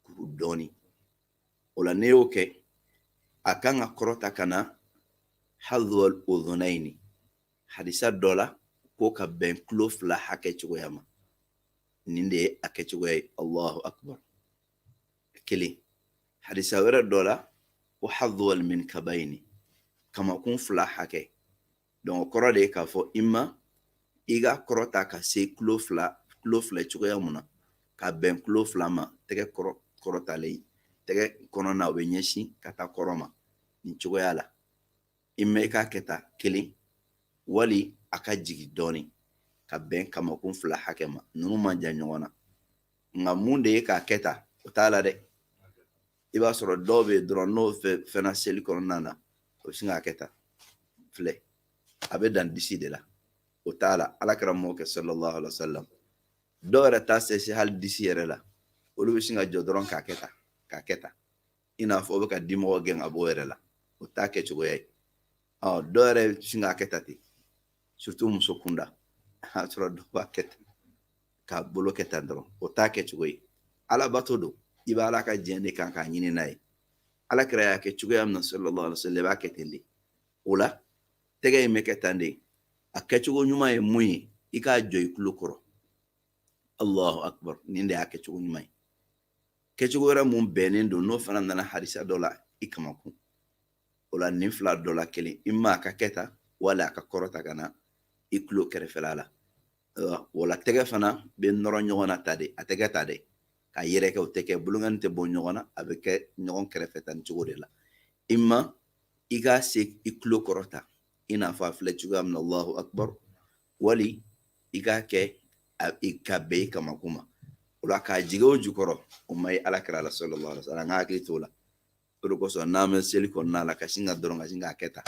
kuru dɔɔni o la n'i y'o kɛ a kan ka kɔrɔta ka na hadwal udunayni hadisa dɔ la ko ka bɛn kulo fila hakɛ cogoya ma nin de ye a kɛcogoya ye allahu akbar kelen hadisa wɛrɛ dɔ la ko hadwal minkabayni kamakun fila hakɛ donc o kɔrɔ de ye k'a fɔ i ma i ka kɔrɔta ka se kulo fila kulo fila cogoya mun na ka bɛn kulo fila ma tɛgɛ kɔrɔ kɔrɔtalen tɛgɛ kɔnɔna o bɛ ɲɛsin ka taa kɔrɔn ma nin cogoya la i ma i k'a kɛ tan kelen wali a ka jigin dɔɔnin ka bɛn kamakun fila hakɛ ma ninnu man jan ɲɔgɔn na nka mun de ye k'a kɛ tan o t'a la dɛ i b'a sɔrɔ dɔw bɛ yen dɔrɔn n'o fɛnna seli kɔnɔna na o bɛ sin k'a kɛ tan filɛ a bɛ dan disi de la o t'a la ala kira m'o kɛ sallallahu alaihi wa sallam dɔw yɛrɛ t'a se si hali disi yɛrɛ la olu bɛ sin ka jɔ dɔrɔn k'a kɛ tan k'a kɛ tan i n'a fɔ o bɛ ka dimɔgɔ gɛn ka bɔ o yɛrɛ la o t'a kɛ cogoya ye ɔ dɔw yɛrɛ bɛ sin k'a kɛ tan ten surtout muso kunda a sɔrɔ dɔw b'a kɛ ten k'a bolo kɛ tan dɔrɔn o t'a kɛ cogo ye alabato don i b'a ala ka diɲɛ de kan k'a ɲini n'a ye ala kira y'a kɛ cogoya min na sallallahu alaihi wasallam i b'a kɛ ten de o la tɛgɛ in bɛ kɛ tan de a kɛcogo ɲuman ye mun ye i k'a jɔ i tulo kɔrɔ allahu akbar nin de y'a kɛcogo ɲuman ye kɛcogo wɛrɛ mun bɛnnen don n'o fana nana hadisa dɔ la i kamakun o la nin fila dɔ la kelen imma a ka kɛ tan wala a ka kɔrɔta ka na i tulo kɛrɛfɛla la wala tɛgɛ fana bɛ nɔrɔ ɲɔgɔn na tan de a tɛ kɛ tan dɛ k'a yɛrɛkɛ o tɛ kɛ bolonkani tɛ bɔ ɲɔgɔn na a bɛ kɛ ɲɔgɔn kɛrɛfɛ tan nin cogo de la imma i k'a se i tulo kɔrɔ tan i n'a fɔ a filɛ cogoya min na allahu akbar wali i k'a kɛ ka bɛn i kamakun ma o la k'a jigin o jukɔrɔ o ma ye ala kira la sallallahu alaihi wa sallam an ka hakili t'o la o de kosɔn n'an bɛ seli kɔnɔna la ka sin ka dɔrɔn ka sin k'a kɛ tan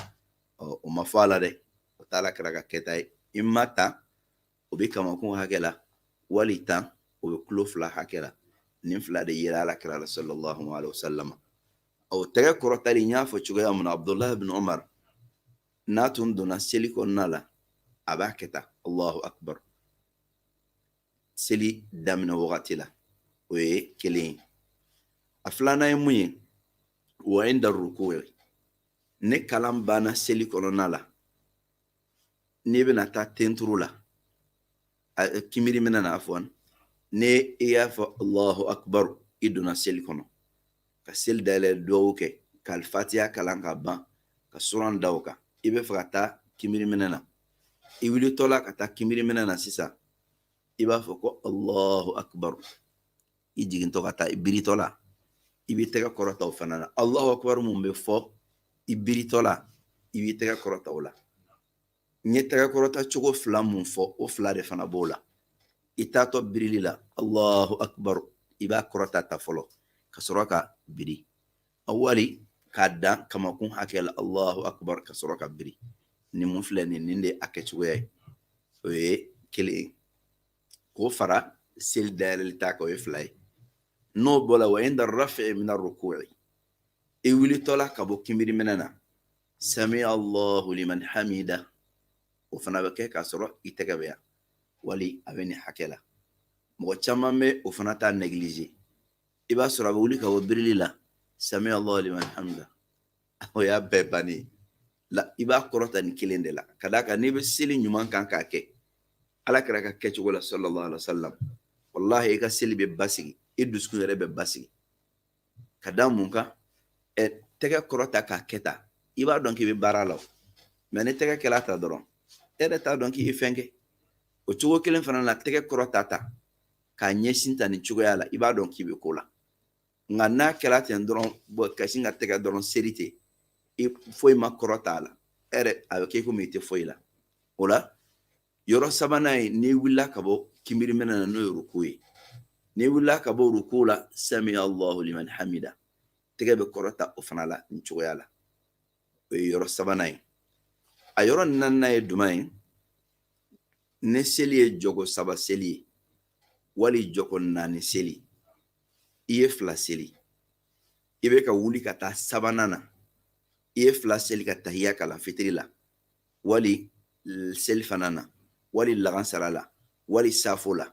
ɔ o ma fɔ a la dɛ o t'ala kira ka kɛta ye imma tan o bɛ kamakun hakɛ la wali tan o bɛ tulo fila hakɛ la nin fila de yera ala kira la sallallahu alaihi wasallam o tɛgɛ kɔrɔtali n y'a fɔ cogoya min na abdullahi ibn umar n'a tun donna seli kɔnɔna la a b'a kɛ tan allahu akbar seli daminɛ wagati la o ye kelen ye a filanan ye mun ye wa inda ruku'i ni kalan banna seli kɔnɔna la n'i bɛna taa tenturu la kimiri mina na afwan n'i y'a fɔ allahu akbar i donna seli kɔnɔ ka seli dayɛlɛ dugawu kɛ ka alifatiya kalan ka ban ka suran da o kan i bɛ fɛ ka taa kimiriminɛ na i wulitɔla ka taa kimiriminɛ na sisan i b'a fɔ ko allahu akbar i jigintɔ ka taa i biritɔla i b'i tɛgɛ kɔrɔta o fana na allahu akbar mun bɛ fɔ i biritɔla i b'i tɛgɛ kɔrɔta o la n ye tɛgɛkɔrɔta cogo fila mun fɔ o fila de fana b'o la i taatɔ birili la allahu akbar i b'a kɔrɔta tan fɔlɔ ka sɔrɔ ka biri a wali k'a dan kamakun hakɛ la allahu akbar ka sɔrɔ ka biri nin mun filɛ nin nin de a kɛcogoya ye o ye kelen ye k'o fara seli dayɛlɛli ta kan o ye fila ye n'o bɔra wa inda rafi mina ruku'i i wulitɔla ka bɔ kinbiriminɛ na sami Allahu liman hamida o fana bɛ kɛ k'a sɔrɔ i tɛgɛ bɛ yan wali a bɛ nin hakɛ la mɔgɔ caman bɛ o fana ta negilize i b'a sɔrɔ a bɛ wuli ka bɔ birili la sami Allahu liman hamida o y'a bɛɛ bannen la i b'a kɔrɔta nin kelen de la ka d'a kan n'i bɛ seli ɲuman kan k'a kɛ alakira ka kɛcogo la sallallahu alaihi wa sallam walahi i ka seli bɛ basigi i dusukun yɛrɛ bɛ basigi ka da mun kan ɛ tɛgɛ kɔrɔta k'a kɛ tan i b'a dɔn k'i bɛ baara la o mɛ n'i tɛgɛ kɛla tan dɔrɔn e yɛrɛ t'a dɔn k'i ye fɛn kɛ o cogo kelen fana la tɛgɛ kɔrɔta tan k'a ɲɛsin tan nin cogoya la i b'a dɔn k'i bɛ ko la nka n'a kɛla ten dɔrɔn ka sin ka tɛgɛ dɔrɔn seri ten foyi ma kɔrɔta a la e yɛrɛ a bɛ kɛ komi i tɛ foyi la o la yɔrɔ sabanan ye n'i wulila ka bɔ kinbiri minɛ na n'o ye ruku ye n'i wulila ka bɔ ruku la sami allahu liman hamida tɛgɛ bɛ kɔrɔta o fana la nin cogoya la o ye yɔrɔ sabanan ye a yɔrɔ naaninan ye jumɛn ye ni seli ye jɔgo saba seli ye wali jɔgo naani seli i ye fila seli i bɛ ka wuli ka taa sabanan na i ye fila seli ka tahiya kalan fitiri la wali selifana na wali lagansara la wali safo la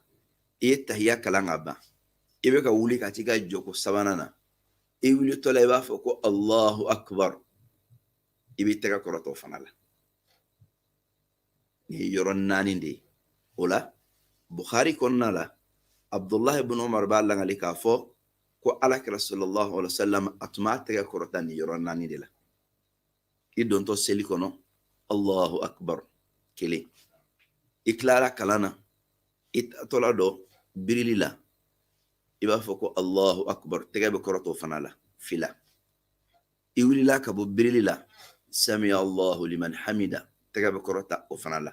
i ye tahiya kalan ka ban i bɛ ka wuli ka t'i ka jɔgo sabanan na i wulitɔ la i b'a fɔ ko allahu akbar i b'i tɛgɛ kɔrɔta o fana la nin ye yɔrɔ naani de ye o la bukhari kɔnɔna la abdullahi bin umar b'a lakali k'a fɔ ko alakira sallallahu alaihi wa sallam a tun b'a tɛgɛ kɔrɔta nin yɔrɔ naani de la i dontɔ seli kɔnɔ allahu akbar kelen i tilara kalan na i taatɔla dɔ birili la i b'a fɔ ko allahu akbar tɛgɛ bɛ kɔrɔta o fana la fila i wulila ka bɔ birili la samiya allahu liman hamida tɛgɛ bɛ kɔrɔta o fana la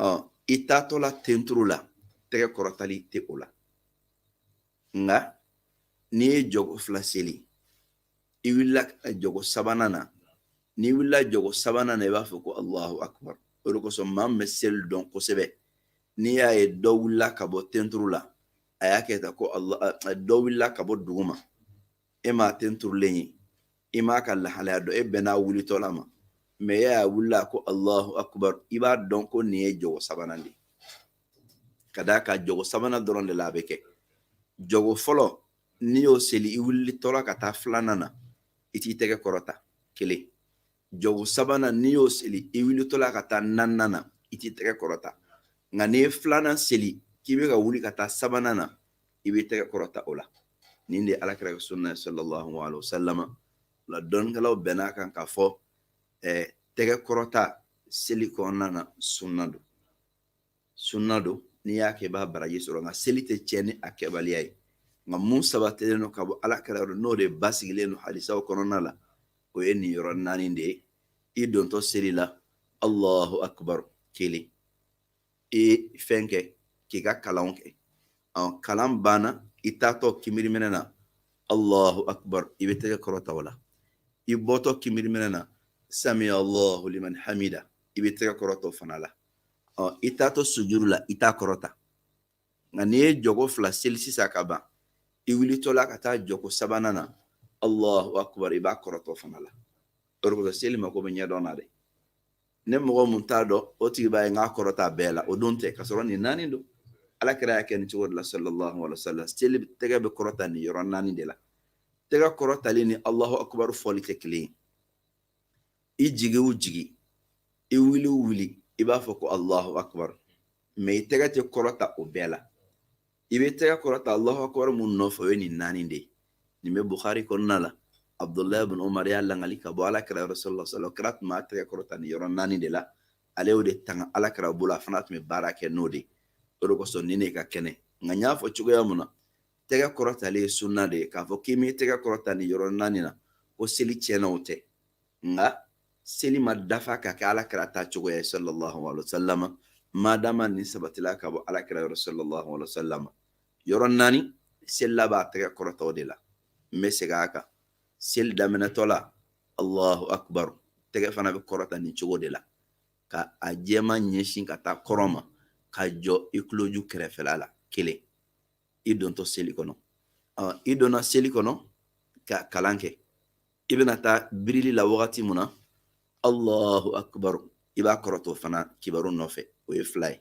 ɔ i taatɔla tenturu la tɛgɛ kɔrɔtali tɛ o la nka n'i ye jɔgo fila seli i wulila jɔgo sabanan na n'i wulila jɔgo sabanan na i b'a fɔ ko alahu akubar o de kosɔn maa min bɛ seli dɔn kosɛbɛ n'i y'a ye dɔ wulila ka bɔ tenturu la a y'a kɛ tan ko dɔ wulila ka bɔ duguma e m'a tenturulen ye i m'a ka lahalaya dɔn e bɛnn'a wulitɔ la ma mɛ e y'a wulila ko alahu akubar i b'a dɔn ko nin ye jɔgo sabanan de ye ka d'a kan jɔgo sabanan dɔrɔn de la a bɛ kɛ jɔgo fɔlɔ n'i y'o seli i wulitɔla ka taa filanan na i t'i tɛgɛ kɔrɔta kelen jɔko sabanan n'i y'o seli i wulitɔla ka taa naaninan na i t'i tɛgɛ kɔrɔta nka n'i ye filanan seli k'i bɛ ka wuli ka taa sabanan na i bɛ tɛgɛ kɔrɔta o la nin de ye alakira ka sunna ye sallallahu alaihi wa sallam o la dɔnnikɛlaw bɛnn'a kan k'a fɔ ɛɛ tɛgɛ kɔrɔta seli kɔnɔna na sunna don sunna don n'i y'a kɛ i b'a baraji sɔrɔ nka seli tɛ tiɲɛ ni a kɛbaliya ye nka mun sabatilen don ka bɔ alakira yɔrɔ n'o de basigilen don hadisaw kɔnɔna la o ye nin yɔrɔ naani de ye i dontɔ seli la allahu akbar kelen i fɛn kɛ k'i ka kalanw kɛ ɔ kalan banna i taatɔ kinbiriminɛ na allahu akbar i bɛ tɛgɛ kɔrɔta o la i bɔtɔ kinbiriminɛ na samiya allahu liman hamida i bɛ tɛgɛ kɔrɔta o fana la ɔ i taatɔ sujuru la i t'a kɔrɔta nka n'i ye jɔko fila seli sisan ka ban i wulitɔla ka taa jɔko sabanan na allahu akbar i b'a kɔrɔta o fana la o de kosɔn seli mako bɛ ɲɛdɔn na dɛ ni mɔgɔ mun t'a dɔn o tigi b'a ye n k'a kɔrɔta bɛɛ la o don tɛ k'a sɔrɔ nin naani don alakira y'a kɛ nin cogo de la sallallahu alaihi wa sallam seli tɛgɛ bɛ kɔrɔta nin yɔrɔ naani de la tɛgɛ kɔrɔtali ni allahu akbar fɔli tɛ kelen ye i jigi o jigi i wuli o wuli i b'a fɔ ko allahu akbar mɛ i tɛgɛ tɛ kɔrɔta o bɛɛ la i bɛ tɛgɛ kɔrɔta allahu akbar mun nɔfɛ o ye nin naani de ye nin bɛ buhari kɔnɔna la abudulayi bin umar y'a lakali ka bɔ alakira yɔrɔ sallallahu alaihi wasallam kira tun b'a tɛgɛ kɔrɔta nin yɔrɔ naani de la ale y'o de tanga alakira bolo a fana tun bɛ baara kɛ n'o de ye o de kosɔn nin de ka kɛnɛ nka n y'a fɔ cogoya mun na tɛgɛ kɔrɔtali ye sunna de ye k'a fɔ k'i m'i tɛgɛ kɔrɔta nin yɔrɔ naani na ko seli tiɲɛna o tɛ nka seli ma dafa ka kɛ alakira ta cogoya ye sallallahu alaihi wasallam madama nin sabatila ka bɔ alakira yɔrɔ sallallahu alaihi wasallam yɔrɔ naani selila b'a tɛgɛ kɔrɔta o de la n bɛ segin a kan seli daminɛtɔ la allahu akbar tɛgɛ fana bɛ kɔrɔta nin cogo de la ka a jɛma ɲɛsin ka taa kɔrɔn ma ka jɔ i tuloju kɛrɛfɛla la kelen i dontɔ seli kɔnɔ i donna seli kɔnɔ ka kalan kɛ i bɛna taa birili la wagati mun na allahu akbar i b'a kɔrɔta o fana kibaru nɔfɛ o ye fila ye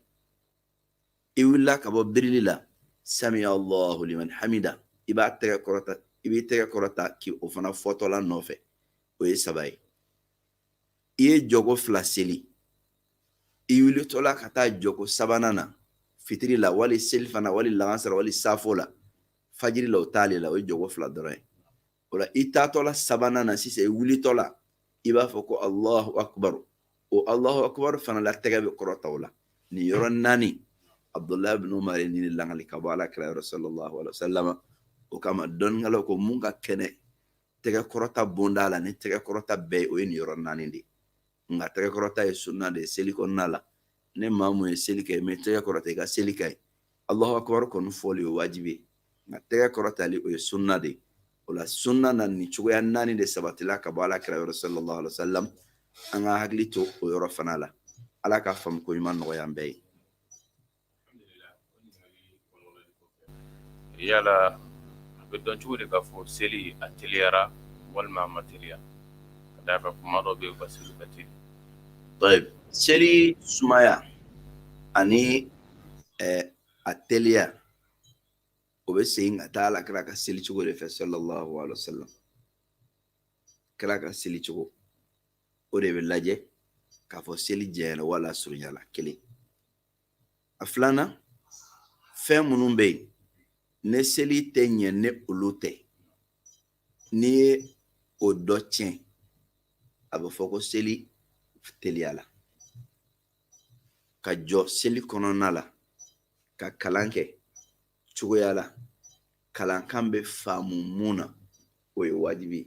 i wulila ka bɔ birili la sami allahu liman hamida i b'a tɛgɛ kɔrɔta i b'i tɛgɛ kɔrɔta k'i o fana fɔtɔla nɔfɛ o ye saba ye i ye jɔko fila seli i wulitɔla ka taa jɔko sabanan na fitiri la wali selifana wali lansara wali safo la fajiri la o t'ale la o ye jɔko fila dɔrɔn ye o la i taatɔla sabanan na sisan i wulitɔla i b'a fɔ ko alahu akubaru o alahu akubaru fana la tɛgɛ bɛ kɔrɔta o la nin yɔrɔ naani abdulahi ibn umar ye nin langali ka bɔ ala kira yɔrɔ sallallahu alaihi wa sallam o kama dɔnnikɛlaw ko mun ka kɛnɛ tɛgɛ kɔrɔta bonda la ni tɛgɛ kɔrɔta bɛɛ o ye nin yɔrɔ naani de nka tɛgɛ kɔrɔta ye sunna de ye seli kɔnɔna la ne maa mun ye seli kɛ i ma tɛgɛ kɔrɔta i ka seli ka ɲi alahu akubaru kɔni fɔli o wajibi ye nka tɛgɛ kɔrɔtali o ye sunna de ye o la sunna na nin cogoya naani de sabatila ka bɔ ala kira yɔrɔ sallallahu alaihi wa sallam an ka hakili to o yɔrɔ fana la ala ka faamuko ɲuman nɔgɔya an bɛɛ ye yala a bɛ dɔn cogo di k'a fɔ seli a teliyara walima a ma teliya ka d'a kan kuma dɔ bɛ yen u ka seli ka teli seli sumaya ani eh, a teliya o bɛ segin ka taa ala kira ka seli cogo de fɛ sallallahu alaihi wa sallam kira ka seli cogo o de bɛ lajɛ k'a fɔ seli jɛnyara wala a surunyala kelen a filanan fɛn minnu bɛ yen ne seli tɛ ɲɛ ne olu tɛ n'i ye o dɔ tiɲɛ a bɛ fɔ ko seli teliyala ka jɔ seli kɔnɔna la ka kalan kɛ cogoya la kalankan bɛ faamu mun na o ye wajibi ye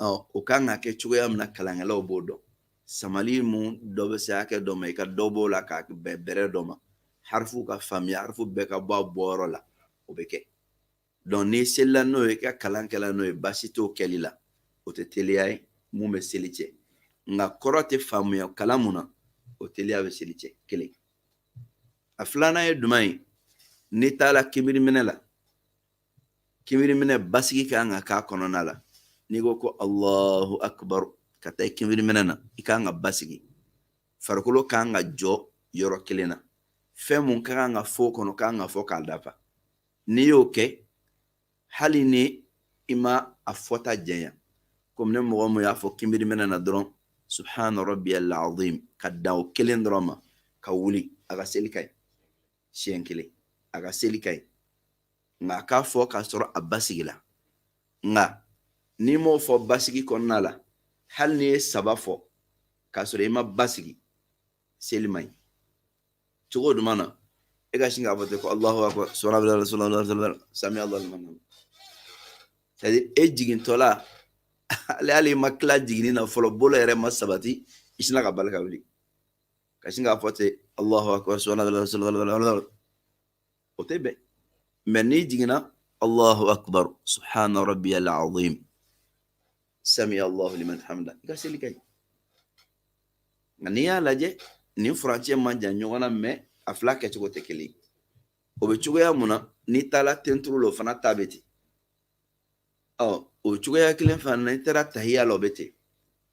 o kan ka kɛ cogoya min na kalankɛlaw b'o dɔn samali mun dɔ bɛ se hakɛ dɔ ma i ka dɔ b'o la ka bɛn bɛrɛ dɔ ma harifu ka faamuya harifu bɛɛ ka bɔ a bɔyɔrɔ la o bɛ kɛ donc n'i selila n'o ye i ka kalan kɛla n'o ye baasi t'o kɛli la o tɛ teliya ye mun bɛ seli cɛn nka kɔrɔ tɛ faamuya kalan mun na o teliya bɛ seli cɛn kelen a filanan ye jumɛn ye n'i taara kibiriminɛ la kinbiriminɛ basigi ka kan ka k'a kɔnɔna la n'i ko ko alahu akubaru ka taa kinbiriminɛ na i ka kan ka basigi farikolo ka kan ka jɔ yɔrɔ kelen na fɛn mun ka kan ka fɔ o kɔnɔ ka kan ka fɔ k'a dafa n'i y'o kɛ hali ni i ma a fɔta jɛnya komi ne mɔgɔ mun y'a fɔ kinbiriminɛ na dɔrɔn subhana rabbiyal azim ka dan o kelen dɔrɔn ma ka wuli a ka seli ka ɲi siɲɛ kelen a ka seli ka ɲi nka a k'a fɔ k'a sɔrɔ a basigila nka n'i m'o fɔ basigi kɔnɔna la hali n'i ye saba fɔ k'a sɔrɔ i ma basigi seli man ɲi cogo duman na e ka sin k'a fɔ ten ko alahu akbar subhanallah subhanallah sami alahu liman hamida c'est à dire e jigintɔla hali i ma tila jiginni na fɔlɔ bolo yɛrɛ ma sabati i sinna ka bali ka wuli ka sin k'a fɔ ten alahu akbar subhanallah subhanallah o tɛ bɛn mais n'i jiginna allahu akbar subhana rabbiyal azim sami allahu liman hamida i ka seli ka ɲi nka n'i y'a lajɛ nin furancɛ man jan ɲɔgɔn na mais a fila kɛcogo tɛ kelen o bɛ cogoya mun na n'i taala tenturu la o fana ta bɛ ten ɔ o cogoya kelen fana n'i taara tahiya la o bɛ ten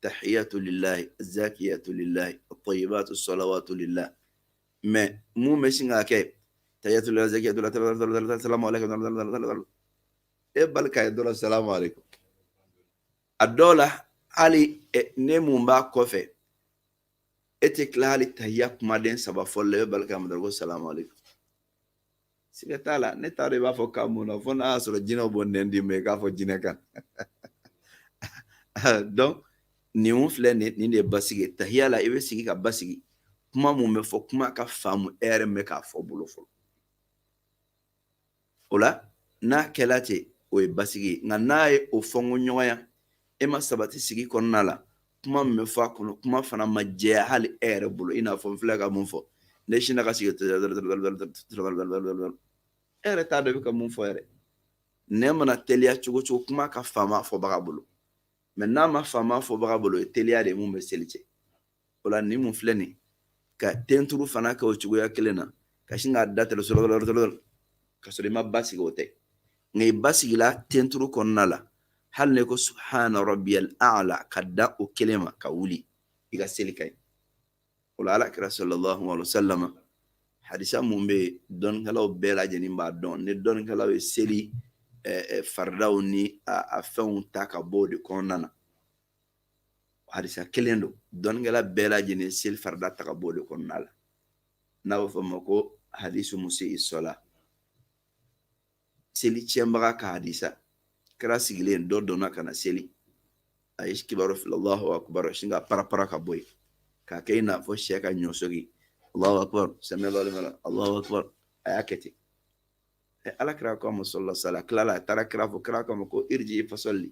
tahiyatu lillahi zakiyatu lillahi tayibatu salawatu lillahi mais mun bɛ sin ka kɛ tahiyatu lillahi zakiyatu lillahi salamu aleykum e bali ka ye dɔrɔn salamu aleykum a dɔw la hali ne mun b'a kɔfɛ e tɛ tila hali tahiya kumaden saba fɔli la e bɛ bali k'a mɛn dɔrɔn ko salamu aleykum siga t'a la ne t'a dɔn i b'a fɔ k'a mun na fo n'a y'a sɔrɔ jinɛw b'o nɛn d'i ma i k'a fɔ jinɛ kan donc nin filɛ nin nin de ye basigi ye tahiya la i bɛ sigi ka basigi kuma mun bɛ fɔ kuma ka faamu e yɛrɛ bɛ k'a fɔ bolo fɔlɔ o la n'a kɛla ten o ye basigi ye nka n'a ye o fɔ n ko ɲɔgɔnya e ma sabati sigi kɔnɔna la kuma min bɛ fɔ a kɔnɔ kuma fana ma jɛya hali e yɛrɛ bolo i n'a fɔ n filɛ ka mun fɔ ne sinna ka sigi e yɛrɛ t'a dɔn i bɛ ka mun fɔ yɛrɛ nɛn mana teliya cogo cogo kuma ka faama fɔbaga bolo mais n'a ma faama fɔbaga bolo o ye teliya de ye mun bɛ seli tiɲɛ o la nin mun filɛ nin ka tenturu fana kɛ o cogoya kelen na ka sin k'a da tɛrɛ sɔrɔ ka sɔrɔ i ma basigi o tɛ nka i basigila tenturu kɔnɔna la hali n'i ko subhana rabbiyal a'la ka dan o kelen ma ka wuli i ka seli ka ɲi o la ala kira sallallahu alaihi wasallam hadisa mun bɛ yen dɔnnikɛlaw bɛɛ lajɛlen b'a dɔn ni dɔnnikɛlaw ye seli faridaw ni a fɛnw ta ka bɔ o de kɔnɔna na hadisa kelen don dɔnnikɛla bɛɛ lajɛlen seli farida ta ka bɔ o de kɔnɔna la n'a bɛ fɔ o ma ko hadisu musi'i sɔla seli tiɲɛbaga ka hadisa kira sigilen dɔ donna ka na seli a ye kibaru fili allahu akbar sin ka parapara ka bɔ yen k'a kɛ i n'a fɔ syɛ ka ɲɔsɔgi allahu akbar sami allahu liman allahu akbar a y'a kɛ ten ala kira ko a ma sallallahu alaihi wasallam tilala a taara kira fo kira k'a ma ko iriji fasɔli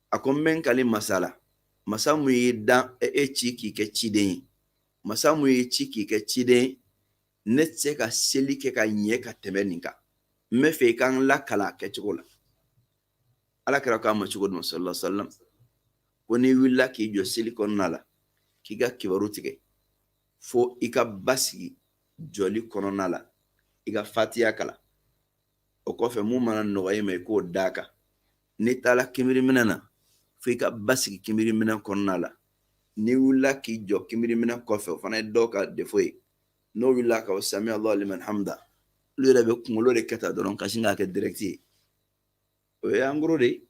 a ko n bɛ n kali masa la masa min y'i dan e, e ci k'i kɛ ciden ye masa min y'i ci k'i kɛ ciden ye ne tɛ se ka seli kɛ ka ɲɛ ka tɛmɛ nin kan n bɛ fɛ i ka n lakalan a kɛcogo la ala kira k'a ma cogo di sallallahu alaihi wasallam ko n'i wulila k'i jɔ seli kɔnɔna la k'i ka kibaru tigɛ fo i ka basigi jɔli kɔnɔna la i ka fatiya kalan o kɔfɛ mun mana nɔgɔya i ma i k'o d'a kan n'i taara kinbiriminɛ na fo i ka basigi kinbiriminɛ kɔnɔna la n'i wulila k'i jɔ kinbiriminɛ kɔfɛ o fana ye dɔw ka defo ye n'o wulila k'a fɔ sami allahu liman hamida olu yɛrɛ bɛ kunkolo de kɔrɔta dɔrɔn ka sin k'a kɛ direct ye o ye en gros de ye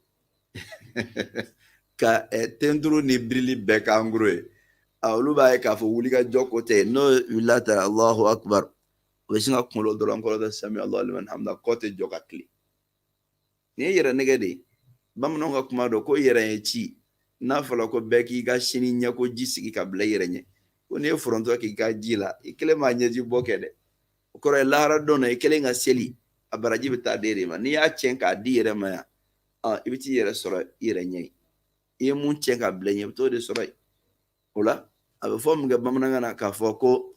ka tenturu ni birili bɛɛ kɛ en gros ye olu b'a ye k'a fɔ wuli ka jɔ ko tɛ n'o wulila ta alahu akubar o bɛ sin ka kunkolo dɔrɔn kɔrɔta sami alahu liman hamida kɔ tɛ jɔ ka tilen nin ye yɛrɛnɛgɛn de ye bamananw ka kuma dɔ ko yɛrɛ ye ci n'a fɔra ko bɛɛ k'i ka sini ɲɛkoji sigi ka bila i yɛrɛ ɲɛ ko n'i ye foronto k'i ka ji la i kelen b'a ɲɛji bɔ kɛ dɛ o kɔrɔ ye lahara don na i kelen ka seli a baraji bɛ taa d'i de ma n'i y'a tiɲɛ k'a d'i yɛrɛ ma yan i bɛ t'i yɛrɛ sɔrɔ i yɛrɛ ɲɛ yen i ye mun tiɲɛ k'a bila ɲɛ i bɛ t'o de sɔrɔ yen o la a bɛ fɔ min kɛ bamanankan na k'a fɔ ko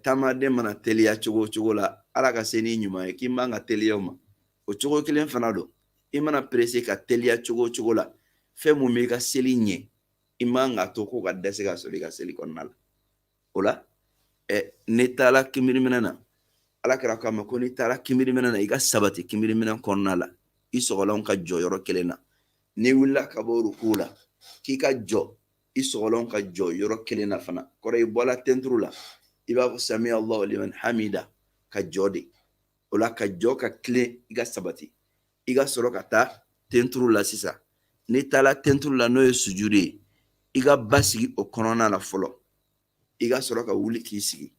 taamaden mana teliya cogo o cogo la ala ka se n'i ɲuman ye k'i man ka teliya o ma o cogo kelen fana don i mana perese ka teliya cogo o cogo la fɛn mun b'i ka seli ɲɛ i man ka to k'o ka dɛsɛ ka sɔrɔ i ka seli kɔnɔna la o la n'i taara kinbiriminɛ na ala kira k'a ma ko n'i taara kinbiriminɛ na i ka sabati kinbiriminɛ kɔnɔna la i sɔgɔlanw ka jɔ yɔrɔ kelen na n'i wulila ka bɔ ruku la k'i ka jɔ i sɔgɔlanw ka jɔ yɔrɔ kelen na fana kɔrɔ i bɔla tenturu la i b'a fɔ sami allahu liman hamida ka jɔ de o la ka jɔ ka tilen i ka sabati i ka sɔrɔ ka taa tenturu la sisan n'i taara tenturu la n'o ye sujudu ye i ka basigi o kɔnɔna la fɔlɔ i ka sɔrɔ ka wuli k'i sigi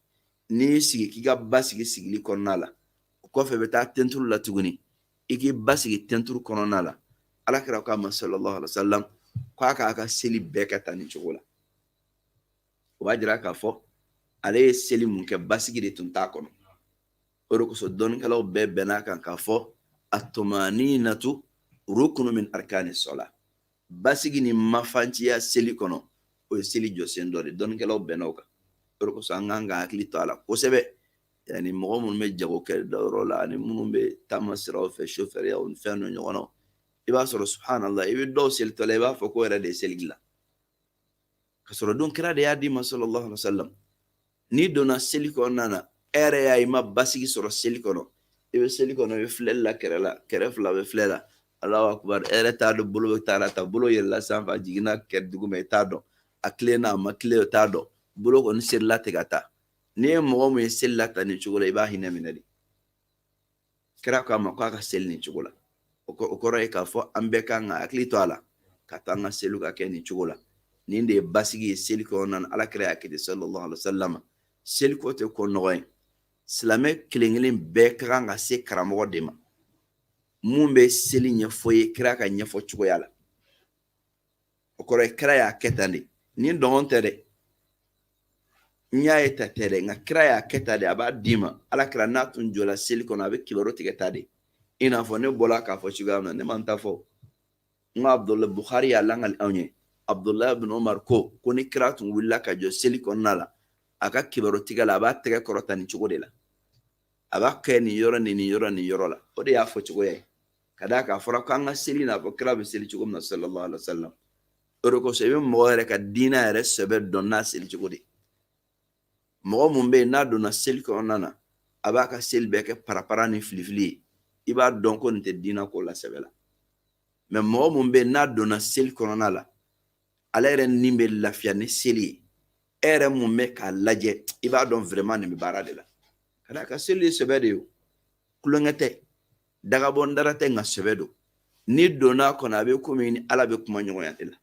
n'i y'i sigi k'i ka basigi sigili kɔnɔna la o kɔfɛ i bɛ taa tenturu la tuguni i k'i basigi tenturu kɔnɔna la ala kira k'a ma sallallahu alaihi wa sallam k'a k'a ka seli bɛɛ kɛ tan nin cogo la o b'a jira k'a fɔ ale ye seli mun kɛ basigi de tun t'a kɔnɔ o de kosɔn dɔnnikɛlaw bɛɛ bɛnn'a kan k'a fɔ at-tumaninatu rukunu min arkani sola basigi ni mafanciya seli kɔnɔ o ye seli jɔsen dɔ de dɔnnikɛlaw bɛnna o kan o de kosɔn an kan ka hakili to a la kosɛbɛ yani mɔgɔ minnu bɛ jago kɛ dayɔrɔ la ani minnu bɛ taama siraw fɛ sofɛriw ni fɛn dɔ ɲɔgɔn na i b'a sɔrɔ subhanallah i bɛ dɔw selitɔ la i b'a fɔ k'o yɛrɛ de ye seli dilan ka sɔrɔ dun kira de y'a d'an ma sallallahu alaihi wa sallam n'i donna seli kɔnɔna na e yɛrɛ y'a ye i ma basigi sɔrɔ seli kɔnɔ i bɛ seli kɔnɔ i bɛ filɛli la kɛrɛ la kɛrɛ fila bɛ filɛ la alahu akubar e yɛrɛ t'a dɔn bolo bɛ taa la tan bolo yɛlɛla sanfɛ a jiginna kɛ duguma i t'a dɔn a tilenna a ma tilen o t'a dɔn bolo kɔni serila ten ka taa n'i ye mɔgɔ min ye seli la tan nin cogo la i b'a hinɛ minɛ de kira k'a ma k'a ka seli nin cogo la o kɔrɔ ye k'a fɔ an bɛɛ ka kan ka hakili to a la k'a to an ka seliw ka kɛ nin cogo la nin de ye basigi ye seli kɔnɔna na alakira y'a kɛ ten sallallahu alaihi wa sallam seli ko tɛ ko nɔgɔ ye silamɛ kelen kelen bɛɛ ka kan ka se karamɔgɔ de ma mun bɛ seli ɲɛfɔ i ye kira k'a ɲɛfɔ cogoya la o kɔrɔ ye kira y'a kɛ tan de ni dɔgɔn tɛ dɛ n y'a ye tan tɛ dɛ nka kira y'a kɛ tan de a b'a d'i ma alakira n'a tun jɔla seli kɔnɔ a bɛ kibaru tigɛ tan de i n'a fɔ ne bɔla k'a fɔ cogoya min na ne ma n ta fɔ n ko abudulayi buhari y'a langali anw ye abudulayi bin omar ko ko ni kira tun wulila ka jɔ seli kɔnɔna la a ka kibaru tigɛ la a b'a tɛgɛ kɔrɔta nin cogo de la a b'a kɛ nin yɔrɔ ni nin yɔrɔ nin yɔrɔ la o de y'a fɔ cogoya ye ka d'a kan a fɔra k'an ka seli n'a fɔ kira bɛ seli cogo min na sallallahu alaihi wa sallam o de kosɔn i bɛ mɔgɔ yɛrɛ ka diinɛ yɛrɛ sɛbɛ dɔn n'a seli cogo de mɔgɔ mun bɛ yen n'a donna seli kɔnɔna na a b'a ka seli bɛɛ kɛ parapara ni filifili ye i b'a dɔn ko nin tɛ diinɛ ko la sɛbɛ la mɛ mɔgɔ mun bɛ yen n'a donna seli kɔnɔna la ale yɛrɛ ni bɛ lafiya ni seli ye e yɛrɛ mun bɛ k'a lajɛ i b'a dɔn vraiment nin bɛ baara de la ka d'a kan seli ye sɛbɛ de ye o tulonkɛ tɛ dagabɔ n dara tɛ nka sɛbɛ don n'i donna a kɔnɔ a bɛ komi i ni ala bɛ kuma ɲɔgɔnya de la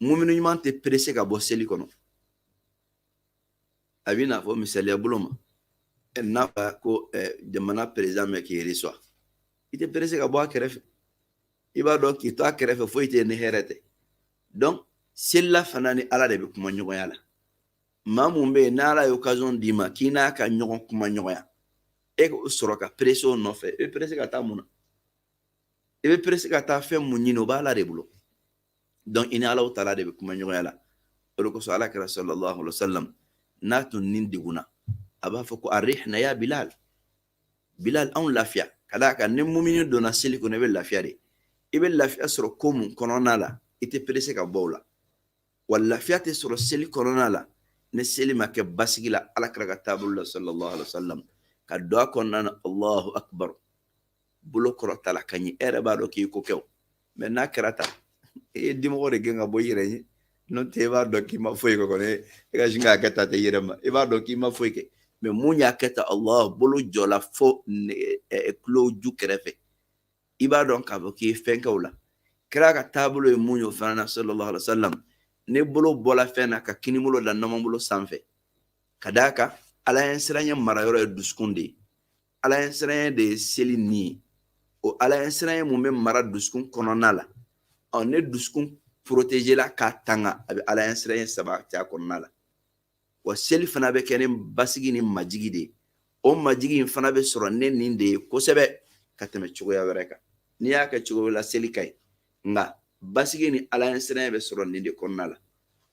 mumini ɲuman tɛ perese ka bɔ seli kɔnɔ a bɛ n'a fɔ misaliya bolo ma n'a fɔ ko jamana président bɛ k'i reçoit i tɛ perese ka bɔ a kɛrɛfɛ i b'a dɔn k'i to a kɛrɛfɛ foyi tɛ ni hɛrɛ tɛ donc selila fana ni ala de bɛ kuma ɲɔgɔnya la maa mun bɛ yen n'ala ye occasion d'i ma k'i n'a ka ɲɔgɔn kuma ɲɔgɔnya e k'o sɔrɔ ka perese o nɔfɛ i bɛ perese ka taa mun na i bɛ perese ka taa fɛn mun ɲini o b'ala de bolo donc i ni ala taala de bɛ kuma ɲɔgɔnya la o de kosɔn alakira sallallahu alaihi wa sallam n'a tun ni degunna a b'a fɔ ko arihina ya bilal bilal anw lafiya ka d'a kan ni mumini donna seli kɔnɔ i bɛ lafiya de i bɛ lafiya sɔrɔ ko mun kɔnɔna la i tɛ perese ka bɔ o la wa lafiya tɛ sɔrɔ seli kɔnɔna la ni seli ma kɛ basigi la alakira ka taabolo la sallallahu alaihi wasallam ka don a kɔnɔna na allahu akbar bolo kɔrɔtala ka ɲɛ e yɛrɛ b'a dɔn k'i ko kɛ mɛ n'a kɛra tan e ye dimɔgɔ de gɛn ka bɔ i yɛrɛ ye n'o tɛ i b'a dɔn k'i ma foyi kɛ kɔni e ka sin k'a kɛ tan tɛ i yɛrɛ ma i b'a dɔn k'i ma foyi kɛ mɛ mun y'a kɛ tan allah bolo jɔla fo tulo ju kɛrɛfɛ i b'a dɔn k'a fɔ k'i ye fɛn kɛ o la kira ka taabolo ye mun ye o fana na sallallahu alaihi wa sallam n'i bolo bɔla fɛn na ka kini bolo da numan bolo sanfɛ ka d'a kan ala ɲɛsiranɲɛ mara yɔrɔ ye dusukun de ye ala ɲɛsiranɲɛ de ye seli ni ye o ala ɲɛsiranɲɛ mun bɛ mara dusukun kɔnɔna la ɔ n'i dusukun porotezela k'a tanga a bɛ ala ɲɛsiranɲɛ sabati a kɔnɔna la wa seli fana bɛ kɛ ni basigi ni majigi de ye o majigi in fana bɛ sɔrɔ ni nin de ye kosɛbɛ ka tɛmɛ cogoya wɛrɛ kan n'i y'a kɛ cogo la seli ka ɲi nka basigi ni ala ɲɛsiranɲɛ bɛ sɔrɔ nin de kɔnɔna la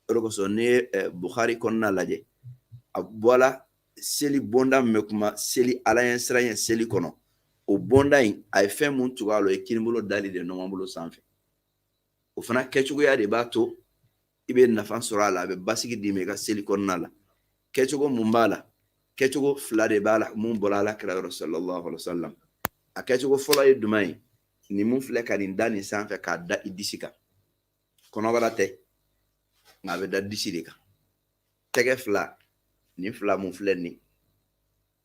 o de kosɔn n'i ye eh, buhari kɔnɔna lajɛ a bɔla seli bonda min bɛ kuma seli ala ɲɛsiranɲɛ seli kɔnɔ o bonda in a ye fɛn mun tugu a la o ye kinibolo dali de ye numan bolo sanfɛ o fana kɛcogoya de b'a to i bɛ nafa sɔrɔ a la a bɛ basigi d'i ma i ka seli kɔnɔna la kɛcogo mun b'a la kɛcogo fila de b'a la mun bɔra ala kira yɔrɔ sallallahu alaihi wasallam a kɛcogo fɔlɔ ye jumɛn ye nin mun filɛ ka nin da nin sanfɛ k'a da i disi kan kɔnɔbara tɛ nka a bɛ da disi de kan tɛgɛ fila nin fila mun filɛ nin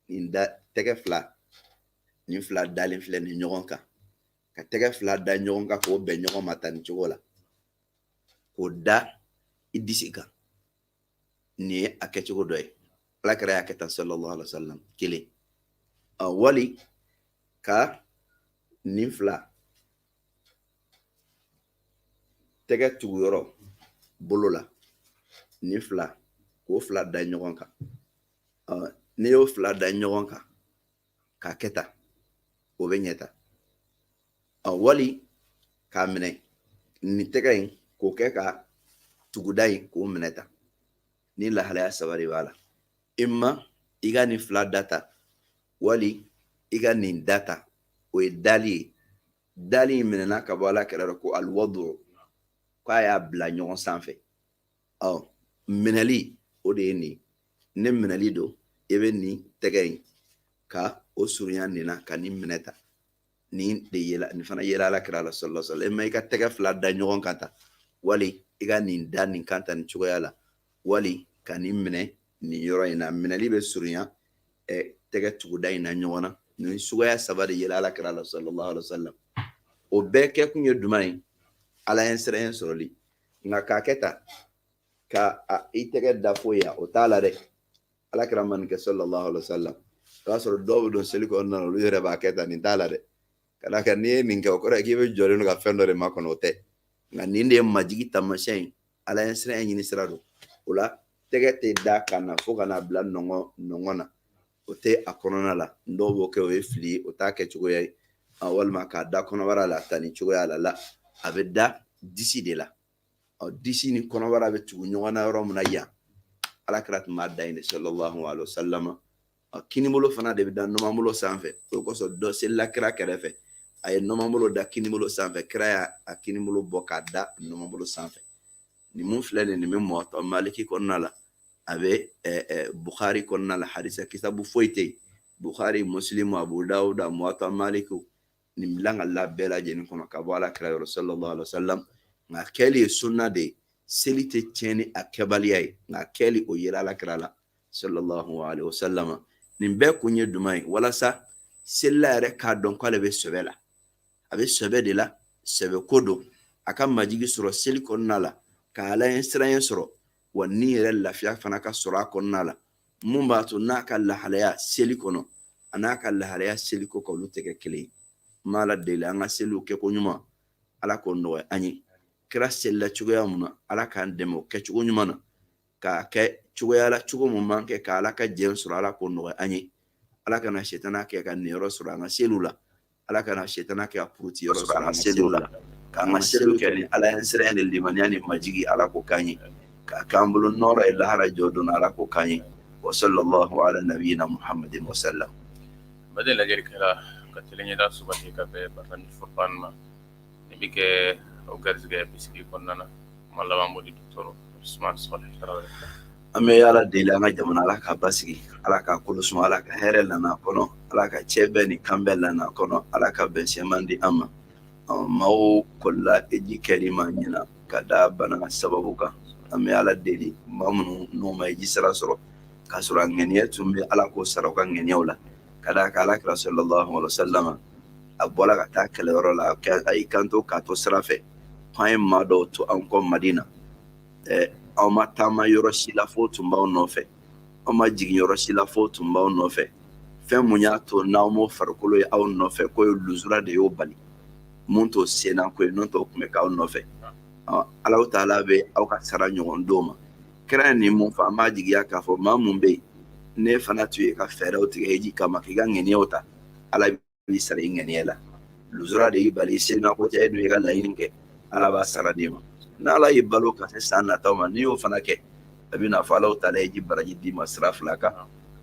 nin da tɛgɛ fila nin fila dalen filɛ nin ɲɔgɔn kan ka tɛgɛ fila da ɲɔgɔn kan k'o bɛn ɲɔgɔn ma tan nin cogo la k'o da i disi kan nin ye a kɛcogo dɔ ye ala kira y'a kɛ tan sallallahu alaihi wa sallam kelen a wali ka nin fila tɛgɛ tugu yɔrɔ bolo la nin fila k'o fila da ɲɔgɔn kan n'i y'o fila da ɲɔgɔn kan k'a kɛ tan o bɛ ɲɛ tan a wali k'a minɛ nin tɛgɛ in k'o kɛ ka tuguda in k'o minɛ tan nin lahalaya saba de b'a la imma i ka nin fila da tan wali i ka nin da tan o ye dali ye dali in minɛna ka bɔ ala kira yɔrɔ ko alwadu k'a y'a bila ɲɔgɔn sanfɛ ɔ minɛli o de ye nin ni minɛli don i bɛ nin tɛgɛ in ka o surunya nin na ka nin minɛ tan nin de yela nin fana yela ala kira la sallallahu alaihi wa sallam imma i ka tɛgɛ fila da ɲɔgɔn kan tan wali i ka nin da nin kan tan nin cogoya la wali ka nin minɛ nin yɔrɔ in na minɛli bɛ surunya ɛ tɛgɛ tuguda in na ɲɔgɔn na nin suguya saba de yela ala kira la sallallahu alaihi wa sallam o bɛɛ kɛkun ye jumɛn ye ala ɲɛsiranɲɛ sɔrɔli nka k'a kɛ tan ka i tɛgɛ da fo yan o t'a la dɛ ala kira ma nin kɛ sallallahu alaihi wasallam o y'a sɔrɔ dɔw bɛ don seli kɔnɔna na olu yɛrɛ b'a kɛ tan nin t'a la dɛ ka d'a kan n'i ye nin kɛ o kɔrɔ ye k'i bɛ jɔlen don ka fɛn dɔ de makɔnɔ o tɛ nka nin de ye majigi taamasiyɛn ye ala ɲɛsiranɲɛ ɲini sira don o la tɛgɛ tɛ da ka na fo ka n'a bila nɔngɔn nɔngɔn na o tɛ a kɔnɔna la dɔw b'o kɛ o ye fili ye o t'a kɛ cogoya ye a walima k'a da kɔnɔbara la tan nin cogoya la la a bɛ da disi de la ɔ disi ni kɔnɔbara bɛ tugu ɲɔgɔn na yɔrɔ min na yan ala kira tun b'a da yen de sɔlɔlahu alayhi wa salama ɔ kinibolo fana de bɛ da nɔnɔmabolo sanfɛ o kosɔn dɔ selila kira kɛrɛfɛ a ye nɔnɔmabolo da kinibolo sanfɛ kira y'a a kinibolo bɔ k'a da nɔnɔmabolo sanfɛ nin mun filɛ nin nin bɛ muwata maliki kɔnɔna la a bɛ bukari kɔnɔna la hadisi kitabu foyi tɛ yen bukari musilimu abu dawuda muwata maliki nin bɛ lakali a bɛɛ lajɛlen kɔnɔ ka bɔ ala kira yɔrɔ sallallahu alaihi wasallam nka kɛli ye sunna de ye seli tɛ tiɲɛ ni a kɛbaliya ye nka kɛli o yera ala kira la sallallahu alaihi wasallam nin bɛɛ kun ye jumɛn ye walasa selila yɛrɛ k'a dɔn k'ale bɛ sɛbɛ la a bɛ sɛbɛ de la sɛbɛ ko don a ka majigi sɔrɔ seli kɔnɔna la ka ala ɲɛsiranya sɔrɔ wa ni yɛrɛ lafiya fana ka sɔrɔ a kɔnɔna la mun b'a to n'a ka lahalaya seli kɔnɔ an'a ka lahalaya seli kɔkan olu tɛ kɛ kelen ye n b'ala deli an ka seliw kɛko ɲuman ala k'o nɔgɔya an ye kira selila cogoya mun na ala k'an dɛmɛ o kɛcogo ɲuman na k'a kɛ cogoya la cogo mun b'an kɛ ka ala ka jɛn sɔrɔ ala k'o nɔgɔya an ye ala kana setana kɛ ka niyɔrɔ sɔrɔ an ka seliw la ala kana setana kɛ ka puruti yɔrɔ sɔrɔ an ka seliw la k'an ka seliw kɛ ni ala ɲɛsiranya ni limaniya ni majigi ala k'o k'an ye k'a k'an bolo nɔrɔ ye lahara jɔ don ala k'o k'an ye wa sallallahu ala nabiyina muhamadin wasallam ba lajɛlikɛla ka kelen yeda su ka bɛɛ ba ni fɔ ma ne bɛ kɛ o garisɛgɛ bisigi kɔnɔna na kuma laban di dɔgɔtɔrɔ Usumani Sɔlihu Tarawele an bɛ ala deli an ka jamana ala k'a basigi ala k'a kolo suma ala ka hɛrɛ lan'a kɔnɔ ala ka cɛbɛn ni kanbɛn lan'a kɔnɔ ala ka bɛn sɛman di an ma maaw kɔlila heji kɛli ma ɲinan ka da bana sababu kan an bɛ ala deli maa minnu n'u ma heji sara sɔrɔ k'a sɔrɔ a ŋaniya tun bɛ ala k'o sara u ka ŋaniyaw la ka d'a kan alakira sɔlɔlɔhu alayhi wa salama a bɔla ka taa kɛlɛyɔrɔ la a y'i kanto k'a to sira fɛ k'an ye maa dɔw to an kɔ madina ɛɛ aw ma taama yɔrɔ si la f'o tun b'aw nɔfɛ aw ma jigin yɔrɔ si la f'o tun b'aw nɔfɛ fɛn mun y'a to n'aw m'o farikolo ye aw nɔfɛ k'o ye luzura de y'o bali mun t'o senna ko ye n'o tɛ o tun bɛ k'aw nɔfɛ alahu taala bɛ aw ka sara ɲɔgɔn d'o ma kira ye nin mun fɔ an b'a jigiya k'a fɔ maa mun bɛ yen n'e fana tun y'i ka fɛɛrɛw tigɛ heji kama k'i ka ŋɛniyaw ta ala b'i sara i ŋɛniya la luzura de y'i bali i senna ko tɛ e dun y'i ka laɲini kɛ ala b'a sara d'i ma n'ala y'i balo ka se san nataw ma n'i y'o fana kɛ a bɛna fɔ alahu taala heji baraji d'i ma sira fila kan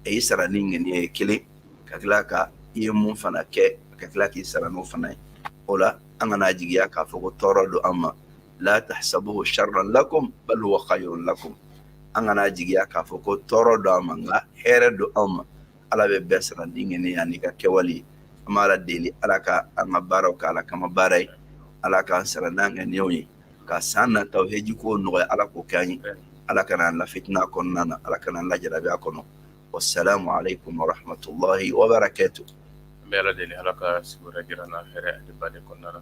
a y'i sara ni ŋɛniya ye kelen ka tila ka i ye mun fana kɛ ka tila k'i sara n'o fana ye o la an kan'a jigiya k'a fɔ ko tɔɔrɔ don an ma la tahsabuhu sharran lakum bal huwa khayrun lakum an kana jigiya k'a fɔ ko tɔɔrɔ don an ma nka hɛrɛ don anw ma ala bɛ bɛɛ sara n'i ŋaniya n'i ka kɛwale an b'ala deli ala ka an ka baaraw kɛ ala kama baara ye ala k'an sara n'an ŋaniyaw ye ka san nataw heji ko nɔgɔya ala k'o kɛ an ye ala kana an lafitina kɔnɔna na ala kana an lajarabi a kɔnɔ wasalamu alaikum warahmatullahi wabarakatu an bɛ ala deli ala ka sigiyɔrɔ jira an na hɛrɛ ani bani kɔnɔna na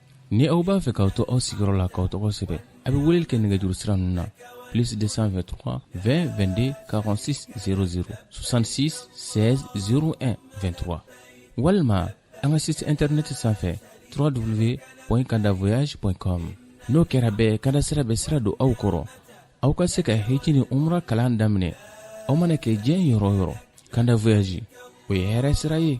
ni aw b'a fɛ k'aw to aw sigiyɔrɔ la k'aw tɔgɔ sɛbɛ a bɛ weleli kɛ nɛgɛjuru sira ninnu na plus 223 20 22 46 00 66 16 01 23 walima an ka site internet sanfɛ www.kandavoyage.com n'o kɛra bɛɛ kanda sira bɛ sira don aw kɔrɔ aw ka se ka heji ni umra kalan daminɛ aw mana kɛ diɲɛ yɔrɔ o yɔrɔ kanda voyage o ye hɛrɛ sira ye